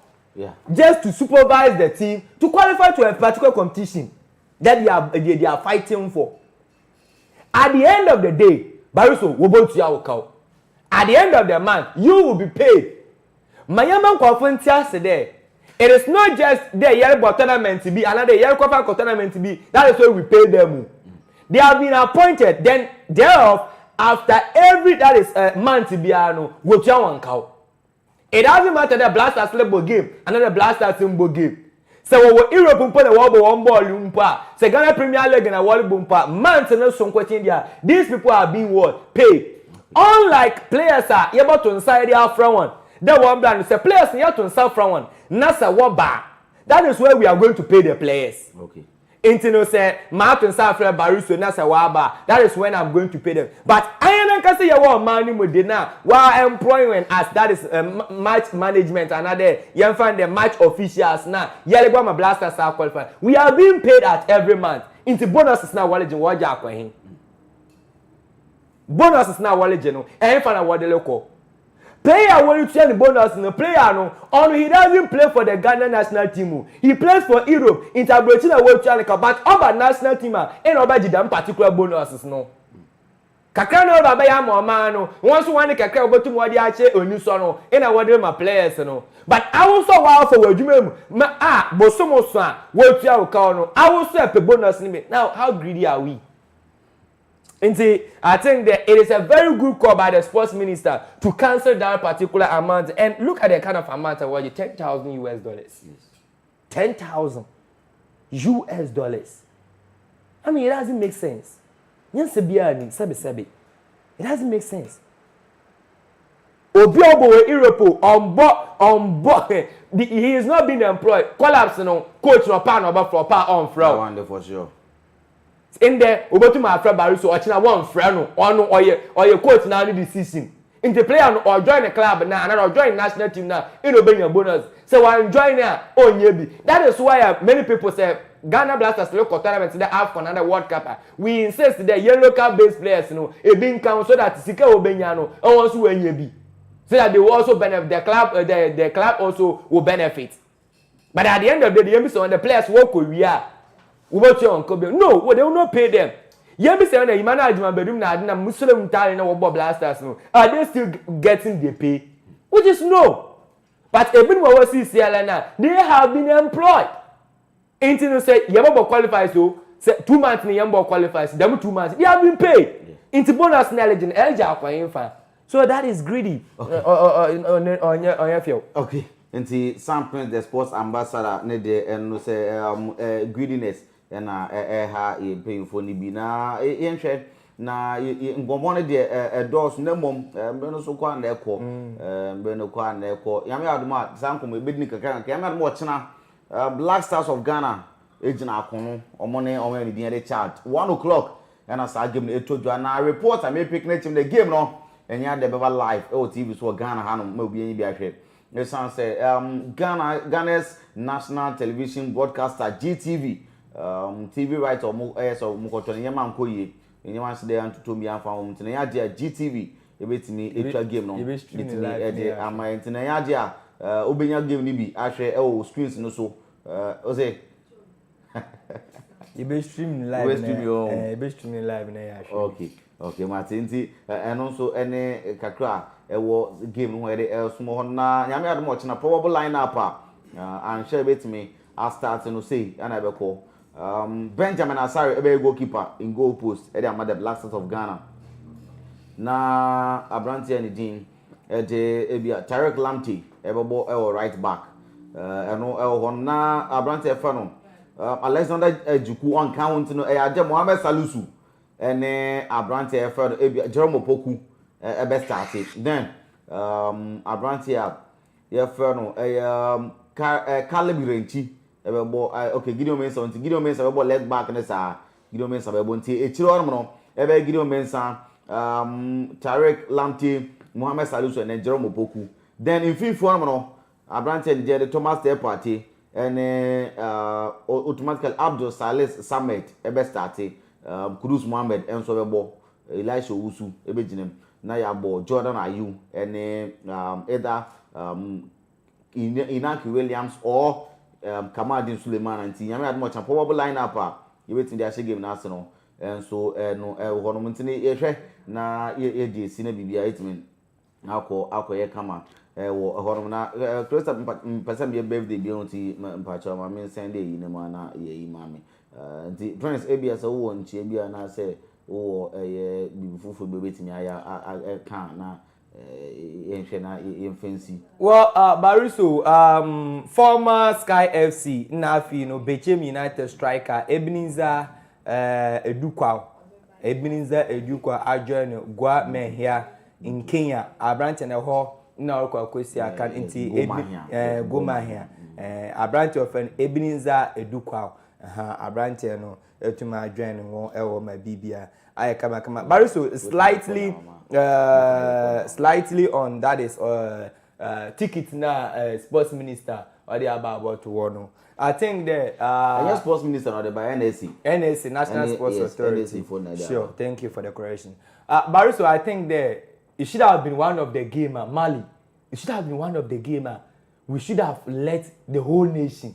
just to supervise the team to qualify to a particular competition that they are they, they are fighting for at the end of the day bariso wɔbɛtua wo kaw at the end of the month you will be paid ma yɛma nkurɔfo nte ase dɛ it is not just dɛ yɛrebɔ tournament bi anadɛ yɛrekɔfa kɔ tournament bi that is why we pay them o they have been appointed then thereof after every that is uh, month biara no wɔtua wɔn kaw It doesn't matter dɛ Blasters no bɔ game anaa dɛ Blasters mmbɔ game. Sɛ wɔwɔ Europe mpo na wɔrobɔ hɔn bɔɔl mpo a, sɛ Ghana Premier League na wɔrobɔ mpo a, month no so nkotsee dze a, these people are being what? Paid. Unlike players a yɛbɔto nsa yɛdze afora hɔn dɛ wɔmbra no, sɛ players no yɛto nsa fra hɔn na sɛ wɔba a, that is where we are going to pay the players. Okay. Enti no sɛ mato nsa afrɛ Bariswe na sɛ waba a, that is when I'm going to pay them. But ayɛn ankasa yɛwɔ ɔman no mu de no a, wɔaemploy yɛn as that is eh, match management anaadɛ yɛmfa no dɛ match officials no a yɛregye ama Blasters a qualify. We are being paid at every month. Enti bonuses no a wɔregye no wɔregye akɔ he? Bonuses no a wɔregye no, ɛhefa na wɔde rekɔ? Player a wɔretua no bonuses no, player no, ɔno he doesn't play for the Ghana national team o, he plays for Europe, nti aburokyiri na wɔretua no ka, but ɔba national team a, nna ɔbɛgye dɛm particular bonuses no. Kakra na ɔba abɛyɛ ama ɔman no, wɔn nso wɔn de kakra a wɔbɛtum wɔde akyɛ anisɔ no, nna wɔde rema players no. But awo nso a wɔafa wɔ adwuma mu ma a, bosom nson a wɔretua wo ka no, awo nso ɛpɛ bonuses no bi, now how greedy are we? Nti, I think that it is a very good call by the sports minister to cancel that particular amount and look at the kind of amount ɛwɔ gye ten thousand US dollars. Ten thousand US dollars. I mean, it doesn't make sense. Nyansa biara ni sɛbi sɛbi. It doesn't make sense. Obi a ɔbɔ wɔ Europe o, ɔmbɔ ɔmbɔ he is not being employed. Collapse no coach na ɔpaa na ɔbɛfrɛ ɔpaa ɔmfrɛ o. That one dey for sure. Ndɛ wobotum afrɛ Barry so ɔkyena wɔnnfrɛ no, ɔno ɔyɛ ɔyɛ coach naa ne decision ntsi player no ɔjoin ne club naa anaa ɔjoin national team naa nna obenya bonus sɛ ɔannjoin a ɔnnyɛ bi that is why a many people sɛ Ghana Blasters rokɔ tournament dɛ Afcon anaa World Cup a we insist dɛ yɛn local based players no bi nka ho so that sika a wobenya no hɔn so woenya bi so that they will also benefit the club the the club also will benefit. But at the end of the day, yɛn sɛ the players wɔkɔ wie a wɔbɛtua wɔn kɔ bi. No, well, they will not pay them. Yɛn sɛ na yima na adwuma badum na adenam musulem ntaare na wɔbɔ blasters no. Are they still getting the pay? Which is no. But ebinom a wɔsi CLN na they have been employed. Nti no sɛ yɛbɛbɔ qualifies o sɛ two months na yɛn bɔ qualifies dɛm two months they have been paid. Nti bonus na ɛlegye no ɛlegye akɔ yɛn fa. so that is greedy ɔnyɛ fɛw. okay nti sam prince the sports ambassador ne deɛ ɛno sɛ um, uh, greediness ɛna ɛha yɛn mpanyinfoɔ no bi na yɛnhwɛ na nkɔmmɔ no deɛ ɛdɔɔso na mmom mmerɛ no so kɔ a na ɛkɔ mmerɛ no kɔ a na ɛkɔ nyame adom a saa nkɔmmɔ yɛbɛdi no kakra kakra nyame adom ɔkyena black stars of ghana gyina akono ɔmo ne ɔmo a ne din yɛde chad one o'clock Ghana saa game no ɛtɔ dwa na report a me pick ne team dɛ game no ɛnyɛ adɛ bɛba live ɛwɔ TV so wɔ Ghana ha nom ma obi anyi bi ahwɛ ɛsan sɛ um, Ghana Ghana's national television broadcaster GTV um, TV right a ɔmo ɛyɛ sɛ ɔmo kɔtɔ ne nyɛma nkɔ yie ne nyɛma nso dɛ antotom bi anfa wɔn nti na ɛnyɛ adeɛ a GTV ɛbɛtumi ɛtwa game no ɛtumi ɛde ama nti na ɛnyɛ adeɛ a uh, wobɛnya game no bi ahwɛ ɛwɔ screens no so uh, ɔsɛ yɛbɛ stream ne live na yɛbɛ stream ne live na yɛ ahwɛ okay okay mate nti ɛno nso ɛne kakra ɛwɔ game no ho yɛde ɛsomɔ hɔ na nyame adom ɔkyena probable line up a anhwɛ ɛbɛtumi astart no sei ɛna ɛbɛkɔ um, Benjamin Asare ɛbɛyɛ goalkeeper in goal post ɛde ama the Black Stars of Ghana na aberanteɛ ne din Ɛte ebia Tariq Lamptey ɛbɛbɔ ɛwɔ right back ɛno ɛwɔ hɔ no na aberanteɛ fɛ no Alexander Ajiku ɔnka ho nti no ɛyɛ adeɛ Mohamed Salisu ɛne aberanteɛ fɛ no ebia Jerome Opoku ɛbɛ starte then um, aberanteɛ a yɛfɛ no ɛyɛ um, Caleb Irenchi ɛbɛbɔ okay Gideon Mensah nti Gideon Mensah ɛbɛbɔ leg back ne saa Gideon Mensah bɛbɔ nti akyire hɔ nom no ɛbɛyɛ Gideon Mensah, um, Tariq Lamptey, Mohamed Salisu and then Jerome Opoku. Then mfimfini hɔ nom no aberanteɛ no deɛ de Thomas Teh Partey ɛne uh, automatically Abdul Salis Samed ɛbɛ starte, um, Kudus Mohammed ɛnso ɛbɛbɔ, Elisha Owusu ɛbɛgyina mu na yɛabɔ Jordan Ayew ɛne um, Eda um, Inaki Williams or um, Kamaldeen Sulemana nti nyame adom ɔkya probable line up a yɛbɛtumi de ahyɛ game no ase no nso ɛno ɛwɔ hɔ nom nti no yɛhwɛ na yɛdi esi na biribi a ɛtumi akɔ akɔyɛ kama ɛwɔ hɔ nom na Krista mpɛ sɛ meyɛ birthday bio nti mpakyɛ ma me nsɛn de ɛyi no mu ana yɛyi ma me nti Prince ebia sɛ wowɔ nkyia bi anaasɛ wowɔ ɛyɛ biribi foforɔ bi bɛtumi ayɛ ɛka na yɛnhwɛ na yɛmfa nsi. Well, uh, Bariso, um, former Sky FC na afei no Bechem United striker Ebenezer uh, Edukwaw, Ebenezer Edukwaw adjoin Gua Mehia in Kenya, aberante na ɛhɔ na ɔrekɔ akɔsi akan nti Gomahia, aberante ɔfɛn Ebenezer Edukwaw, aberante no. Ɛtumi adwɛn ne ho wɔ ma biribia ayɛ kamakama. Bari so slightly uh, slightly on that is uh, uh, ticket na uh, sports minister ɔde aba abɔto hɔ no. I think dɛ. Uh, Ɛnyɛ sports minister na ɔde ba NSC. NSC National N Sports yes, Authority. NSC for Nigeria. Sure, thank you for the correction. Uh, Bari so I think dɛ it should have been one of the game uh, Mali. It should have been one of the game uh, we should have let the whole nation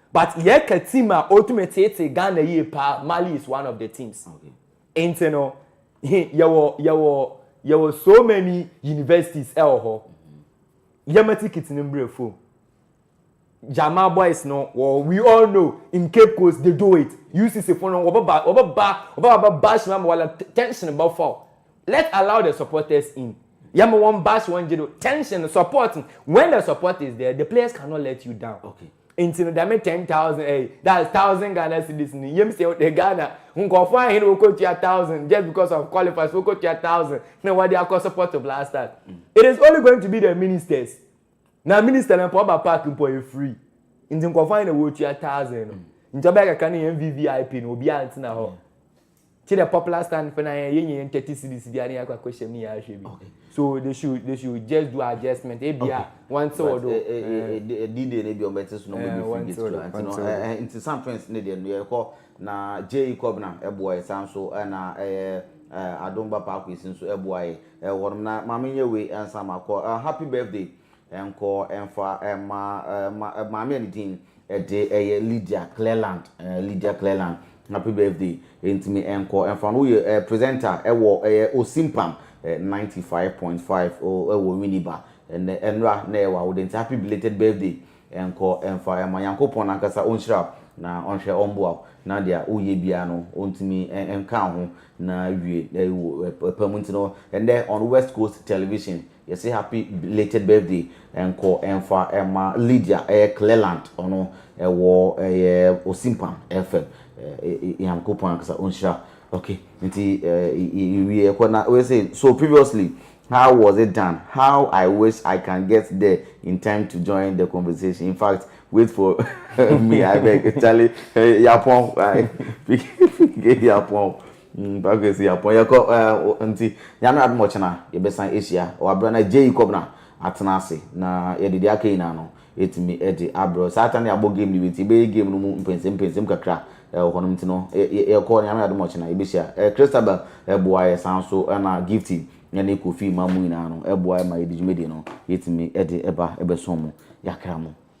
But yɛka team a otumi teetee Ghana yie paa Mali is one of the teams. Nti no he yɛwɔ yɛwɔ yɛwɔ so many universities ɛwɔ hɔ. Yɛma ticket no mbrɛ fom. Jama boys no wɔ we all know in Cape Coast they do it. UCC fo no wɔbɛba wɔbɛba wɔbɛba bɛ bash ma wɔla tension bɛfa o. Let allow the supporters in. Yɛma wɔn bash wɔn gye do tension support when the support is there the players cannot let you down. Okay. Nti no dɛm ten thousand ɛyi eh, that's thousand Ghana cedis no yam sɛ wɔde Ghana nkurɔfoɔ ahen wɔkɔtua thousand just because of qualifiers wɔkɔtua thousand na wɔde akɔ support to blasters mm. it is only going to be the ministers na minister na mpo ɔba park mpo ɔyɛ free nti nkurɔfoɔ ahen na wɔtua thousand no mm. nti ɔbɛyɛ kakra no yɛ mvvip no obiara ntena hɔ. Yeah. Ti the popular stand for na yɛ yɛ nyɛ thirty cities bi ani akɔ akɔ hyɛm ni yɛ ahwɛ bi. Okay. So they should they should just do adjustment. Ebi Okay. a wɔn ti wɔ But do. eh, eh, eh, eh, di- eh, D-Day no bi ɔmbɛte so na ɔmbɛdi Eh, frigate wɔntew do, kora. Nti no, wɔntew eh, do. eh, nti San Prince ne deɛ no yɛkɔ na J.E. Kɔbena ɛboa yɛ saa nso ɛna ɛyɛ eh, Adom Bapa Akwesi nso ɛboa yɛ eh, hɔnom na ma menyɛ wei ansa makɔ. Eh, happy birthday Nkɔ mfa mma ma maame a ne din de ɛyɛ Lydia Cleland eh, Lydia Cleland happy birthday ntumi nkɔ mfa no woyɛ eh, presenter ɛwɔ ɛyɛ Osimpam eh, 95.5 oh, ɛwɔ Winneba ɛnɛ ɛnora na ɛyɛ wawode nti happy belated birthday nkɔ mfa ɛma Nyankopɔn nankasa ɔnhyira wo na ɔnhwɛ ɔmboa wo na deɛ woyɛ biara no ɔntumi nka ho na wie ɛwɔ ɛpɛ mu nti no ɛnɛ on West Coast Television Yɛse happy belated birthday nkɔ mfa ma Lydia ɛyɛ Cleland ɔno ɛwɔ ɛyɛ Osimpam FM Nyankopɔn ankasa onhyira ok nti yɛwie ɛkɔ na we say so previously how was it done how I wish I can get there in time to join the conversation in fact wait for me I beg Charlie yapɔn yapɔn Mm packers yi apɔn yɛkɔ ɛɛ nti nyame adom ɔkyena yɛbɛsan ahyia wɔ aberɛ na Jay Kɔbena atena ase na yɛde deɛ aka nyinaa no ɛtumi de abrɛ saa ta ne abɔ game no wie nti yɛbɛyɛ game no mu mpɛnsɛm mpɛnsɛm kakra ɛwɔ hɔ nom nti no yɛkɔ nyame adom ɔkyena yɛbɛhyia ɛɛ Christabel ɛboa yɛ saa nso ɛna Gifty ɛne Kofi ma mu nyinaa no ɛboa yɛ ma yɛde dwumadie no yɛtumi ɛde ɛba ɛbɛso mo yɛakra mo.